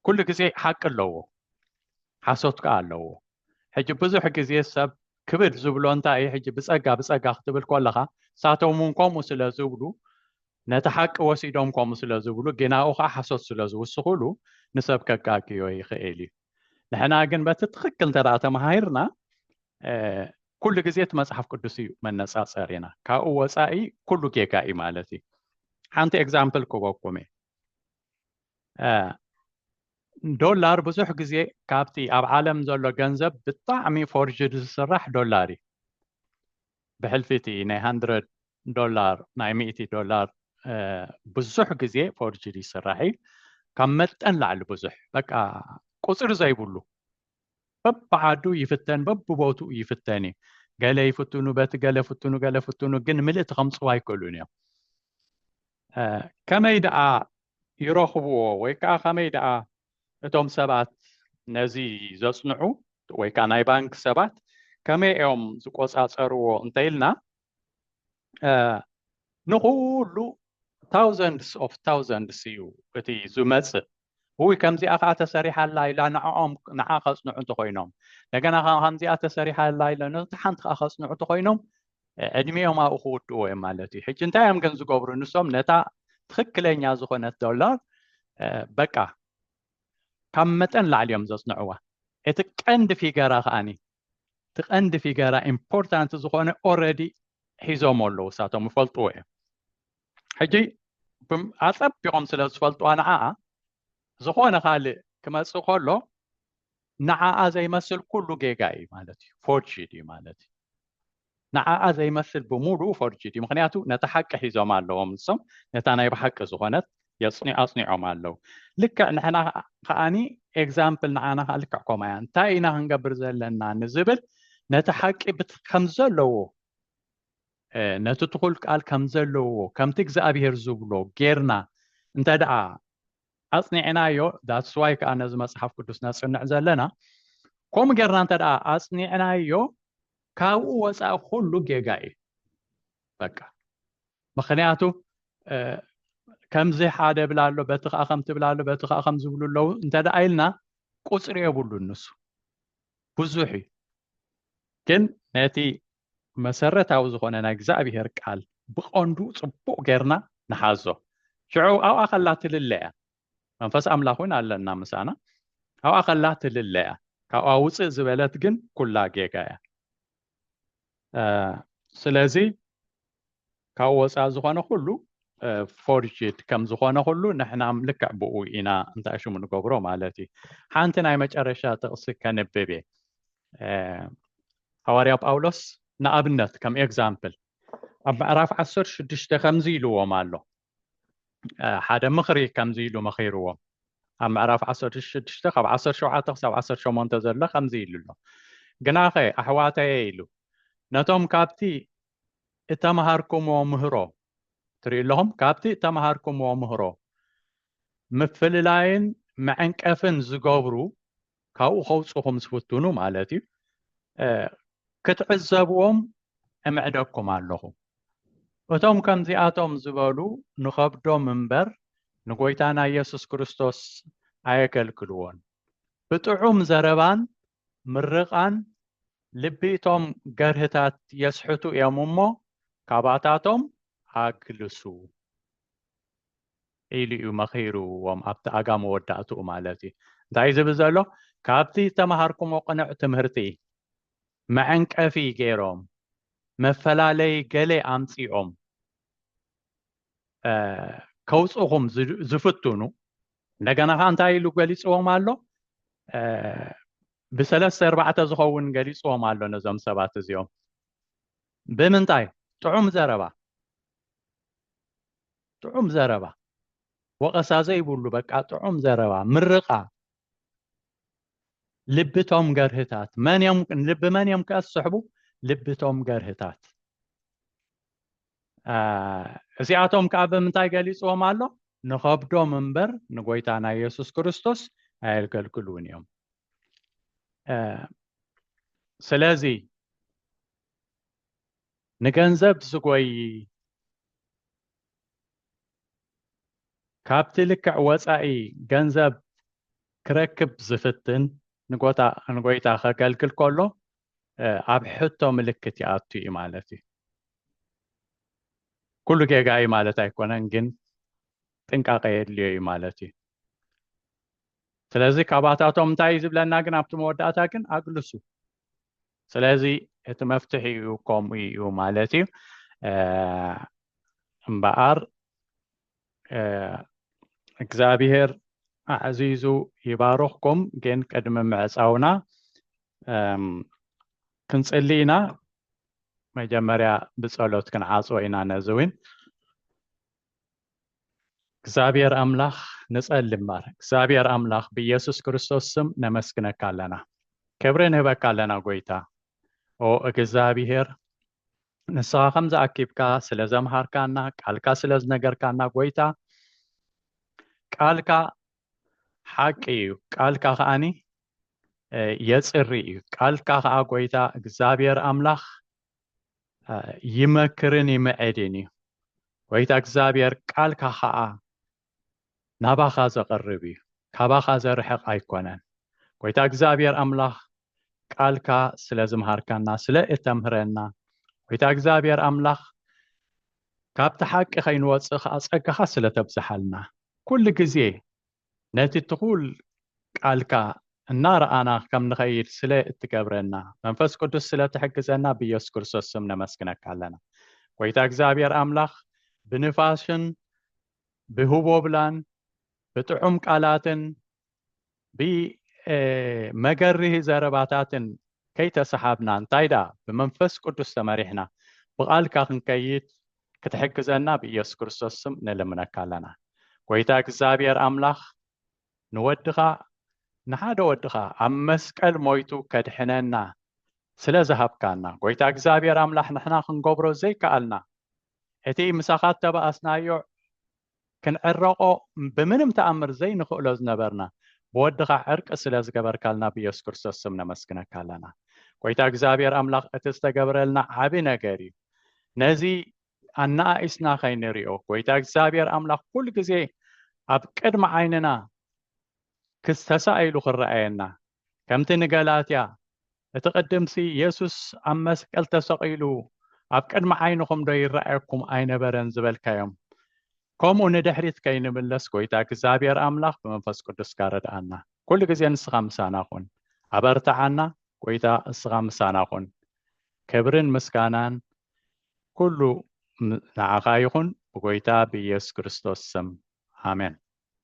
ኩሉ ግዜ ሓቂ ኣለዎ ሓሶት ከዓ ኣለዎ ሕጂ ብዙሕ ግዜ ሰብ ክብድ ዝብሎ እንታይ እዩ ሕጂ ብፀጋ ብፀጋ ክትብል ከለኻ ሳቶም እውን ከምኡ ስለ ዝብሉ ነቲ ሓቂ ወሲዶም ከምኡ ስለ ዝብሉ ግናኡ ከዓ ሓሶት ስለ ዝውስኹሉ ንሰብ ከጋግዮ ይኽእል እዩ ንሕና ግን በቲ ትኽክል እንተ ተመሃርና ኩሉ ግዜ እቲ መፅሓፍ ቅዱስ እዩ መነፃፀሪና ካብኡ ወፃኢ ኩሉ ጌጋ እዩ ማለት እዩ ሓንቲ ኤግዛምፕል ክበኩም እየ ዶላር ብዙሕ ግዜ ካብቲ ኣብ ዓለም ዘሎ ገንዘብ ብጣዕሚ ፎርጅድ ዝስራሕ ዶላር እዩ ብሕልፊ እቲ ናይ ሃንድረድ ዶላር ናይ ሚእቲ ዶላር ብዙሕ ግዜ ፎርጅድ ይስራሕ እዩ ካብ መጠን ላዕሊ ብዙሕ በቃ ቁፅሪ ዘይብሉ በብዓዱ ይፍተን በብቦትኡ ይፍተን እዩ ገለ ይፍትኑ በቲ ገለ ፍትኑ ገለ ፍትኑ ግን ምልእቲ ከምፅዋ ኣይክእሉን እዮም ከመይ ደኣ ይረኽብዎ ወይ ከዓ ከመይ ደኣ እቶም ሰባት ነዚ ዘጽንዑ ወይ ከኣ ናይ ባንክ ሰባት ከመይ እዮም ዝቆጻጸርዎ እንተኢልና ንኹሉ ታውዘንድስ ኦፍ ታውዘንድስ እዩ እቲ ዝመፅእ ውይ ከምዚኣ ከዓ ተሰሪሓ ኣላ ኢላ ንዕኦም ንዓ ከፅንዑ እንተኮይኖም እንደገና ከዓ ከምዚኣ ተሰሪሓ ኣላ ኢለ ነቲ ሓንቲ ከዓ ከፅንዑ እንተኮይኖም ዕድሚኦም ኣብኡ ክውድእዎ እዮም ማለት እዩ ሕጂ እንታይ እዮም ግን ዝገብሩ ንሶም ነታ ትኽክለኛ ዝኾነት ዶላር በቃ ካብ መጠን ላዕሊ እዮም ዘፅንዕዋ እቲ ቀንዲ ፊገራ ከዓኒ እቲ ቀንዲ ፊገራ ኢምፖርታንት ዝኾነ ኦረዲ ሒዞሞ ኣለዉ እሳቶም ይፈልጥዎ እዮም ሕጂ ኣፀቢቖም ስለ ዝፈልጥዋ ንዓኣ ዝኾነ ካልእ ክመፅእ ከሎ ንዓኣ ዘይመስል ኩሉ ጌጋ እዩ ማለት እዩ ፎርጅድ እዩ ማለት እዩ ንዓኣ ዘይመስል ብምሉኡ ፎርጅድ እዩ ምክንያቱ ነታ ሓቂ ሒዞም ኣለዎም ንሶም ነታ ናይ ብሓቂ ዝኾነት ኣፅኒዖም ኣለው ልክዕ ንሕና ከዓኒ ኤግዛምፕል ንዓና ከዓ ልክዕ ከምኡ እያ እንታይ ኢና ክንገብር ዘለና ንዝብል ነቲ ሓቂ ከም ዘለዎ ነቲ ትኹል ቃል ከም ዘለዎ ከምቲ እግዚኣብሄር ዝብሎ ጌርና እንተ ደኣ ኣጽኒዕናዮ that's why ከኣ ነዚ መጽሓፍ ቅዱስ ነጽንዕ ዘለና ከምኡ ጌርና እንተ ደኣ ኣጽኒዕናዮ ካብኡ ወጻኢ ኩሉ ጌጋ እዩ በቃ ምክንያቱ ከምዚ ሓደ ብላ ኣሎ በቲ ከዓ ከም ትብላ ኣሎ በቲ ከዓ ከም ዝብሉ ኣለዉ እንተ ደኣ ኢልና ቁፅሪ የብሉ ንሱ ብዙሕ እዩ ግን ነቲ መሰረታዊ ዝኾነ ናይ እግዚኣብሔር ቃል ብቐንዱ ጽቡቕ ጌርና ንሓዞ ሽዑ ኣብኣ ከላ ትልለ እያ መንፈስ ኣምላኽ እውን ኣለና ምሳና ኣብኣ ከላ ትልለ እያ ካብኣ ውፅእ ዝበለት ግን ኩላ ጌጋ እያ ስለዚ ካብ ወፃኢ ዝኾነ ኩሉ ፎርጅድ ከም ዝኾነ ኩሉ ንሕና ልክዕ ብኡ ኢና እንታይ ሽሙ ንገብሮ ማለት እዩ ሓንቲ ናይ መጨረሻ ጥቕሲ ከንብብ እየ ሃዋርያ ጳውሎስ ንኣብነት ከም ኤግዛምፕል ኣብ ምዕራፍ ዓሰር ሽዱሽተ ከምዚ ኢልዎም ኣሎ ሓደ ምኽሪ ከምዚ ኢሉ መኺርዎም ኣብ ምዕራፍ ዓሰር ሽዱሽተ ካብ ዓሰር ሸውዓተ ክሳብ ዓሰር ሸሞንተ ዘሎ ከምዚ ኢሉ ኣሎ ግናኸ ኣሕዋተየ ኢሉ ነቶም ካብቲ እተማሃርኩምዎ ምህሮ ትሪኡ ኣለኹም። ካብቲ እተማሃርኩምዎ ምህሮ ምፍልላይን መዐንቀፍን ዝገብሩ ካብኡ ከውፅኹም ዝፍትኑ ማለት እዩ ክትዕዘብዎም እምዕደኩም ኣለኹ። እቶም ከምዚኣቶም ዝበሉ ንኸብዶም እምበር ንጎይታና ኢየሱስ ክርስቶስ ኣየገልግልዎን። ብጥዑም ዘረባን ምርቓን ልቢ እቶም ገርህታት የስሕቱ እዮም እሞ ካባታቶም ኣግልሱ ኢሉ እዩ መኺርዎም ኣብቲ ኣጋ መወዳእትኡ ማለት እዩ እንታይ ዝብል ዘሎ ካብቲ ዝተምሃርኩሞ ቅኑዕ ትምህርቲ መዐንቀፊ ገይሮም መፈላለይ ገሌ ኣምፂኦም ከውፅኹም ዝፍትኑ እንደገና ከዓ እንታይ ኢሉ ገሊፅዎም ኣሎ ብሰለስተ ኣርባዕተ ዝኸውን ገሊፅዎም ኣሎ ነዞም ሰባት እዚኦም ብምንታይ ጥዑም ዘረባ ጥዑም ዘረባ ወቐሳ ዘይብሉ በቃ ጥዑም ዘረባ ምርቓ ልብቶም ገርህታት መን እዮም ልቢ መን እዮም ከስሕቡ ልብቶም ገርህታት እዚኣቶም ከዓ ብምንታይ ገሊፅዎም ኣሎ ንኸብዶም እምበር ንጎይታና ኢየሱስ ክርስቶስ ኣየገልግሉን እዮም ስለዚ ንገንዘብ ዝጎይ ካብቲ ልክዕ ወፃኢ ገንዘብ ክረክብ ዝፍትን ንጎይታ ከገልግል ከሎ ኣብ ሕቶ ምልክት ይኣቱ እዩ ማለት እዩ ኩሉ ጌጋ እዩ ማለት ኣይኮነን ግን ጥንቃቐ የድልዮ እዩ ማለት እዩ ስለዚ ካባታቶም እንታይ እዩ ዝብለና ግን ኣብቲ መወዳእታ ግን ኣግልሱ ስለዚ እቲ መፍትሒ እዩ ከምኡ እዩ ማለት እዩ እምበኣር እግዚኣብሔር ኣዕዚዙ ይባርኽኩም ግን ቅድሚ ምዕፃውና ክንፅሊ ኢና መጀመርያ ብፀሎት ክንዓፅወ ኢና ነዚ እውን እግዚኣብሔር ኣምላኽ ንፀሊ እምበር እግዚኣብሔር ኣምላኽ ብኢየሱስ ክርስቶስ ስም ነመስግነካ ኣለና ክብሪ ንህበካ ኣለና ጎይታ ኦ እግዝኣብሄር ንስኻ ከምዚ ኣኪብካ ስለ ዘምሃርካና ቃልካ ስለ ዝነገርካና ጎይታ ቃልካ ሓቂ እዩ ቃልካ ከዓኒ የፅሪ እዩ ቃልካ ከዓ ጎይታ እግዚኣብሔር ኣምላኽ ይመክርን ይምዕድን እዩ ጎይታ እግዚኣብሔር ቃልካ ከዓ ናባኻ ዘቐርብ እዩ ካባኻ ዘርሕቕ ኣይኮነን ጎይታ እግዚኣብሔር ኣምላኽ ቃልካ ስለ ዝምሃርካና ስለ እተምህረና ጎይታ እግዚኣብሔር ኣምላኽ ካብቲ ሓቂ ከይንወፅእ ከዓ ፀጋኻ ስለ ተብዝሓልና ኩሉ ግዜ ነቲ ትኹል ቃልካ እናረኣና ከም ንኸይድ ስለ እትገብረና መንፈስ ቅዱስ ስለ ትሕግዘና ብኢየሱስ ክርስቶስ ስም ነመስግነካ ኣለና ጎይታ እግዚኣብሔር ኣምላኽ ብንፋስን ብህቦብላን ብጥዑም ቃላትን ብመገርሂ ዘረባታትን ከይተሰሓብና እንታይ ደኣ ብመንፈስ ቅዱስ ተመሪሕና ብቓልካ ክንከይድ ክትሕግዘና ብኢየሱስ ክርስቶስ ስም ንልምነካ ኣለና። ጎይታ እግዚኣብሔር ኣምላኽ ንወድኻ ንሓደ ወድኻ ኣብ መስቀል ሞይቱ ከድሕነና ስለ ዝሃብካና ጎይታ እግዚኣብሔር ኣምላኽ ንሕና ክንገብሮ ዘይከኣልና እቲ ምሳኻ እተባኣስናዮ ክንዕረቆ ብምንም ተኣምር ዘይንኽእሎ ዝነበርና ብወድኻ ዕርቂ ስለ ዝገበርካልና ብየሱስ ክርስቶስ ስም ነመስግነካ ኣለና ጎይታ እግዚኣብሔር ኣምላኽ እቲ ዝተገብረልና ዓቢ ነገር እዩ ነዚ ኣነኣኢስና ከይንሪኦ ጎይታ እግዚኣብሔር ኣምላኽ ኩሉ ግዜ ኣብ ቅድሚ ዓይንና ክስተሳኢሉ ክረኣየና ከምቲ ንገላትያ እቲ ቅድምሲ የሱስ ኣብ መስቀል ተሰቒሉ ኣብ ቅድሚ ዓይንኹምዶ ይረኣየኩም ኣይነበረን ዝበልካዮም ከምኡ ንድሕሪት ከይንምለስ ጎይታ እግዚኣብሔር ኣምላኽ ብመንፈስ ቅዱስ ጋረድኣና ኩሉ ግዜ ንስኻ ምሳና ኹን ኣበርትዓና ጎይታ እስኻ ምሳና ኹን ክብርን ምስጋናን ኩሉ ንዓኻ ይኹን ብጎይታ ብኢየሱስ ክርስቶስ ስም ኣሜን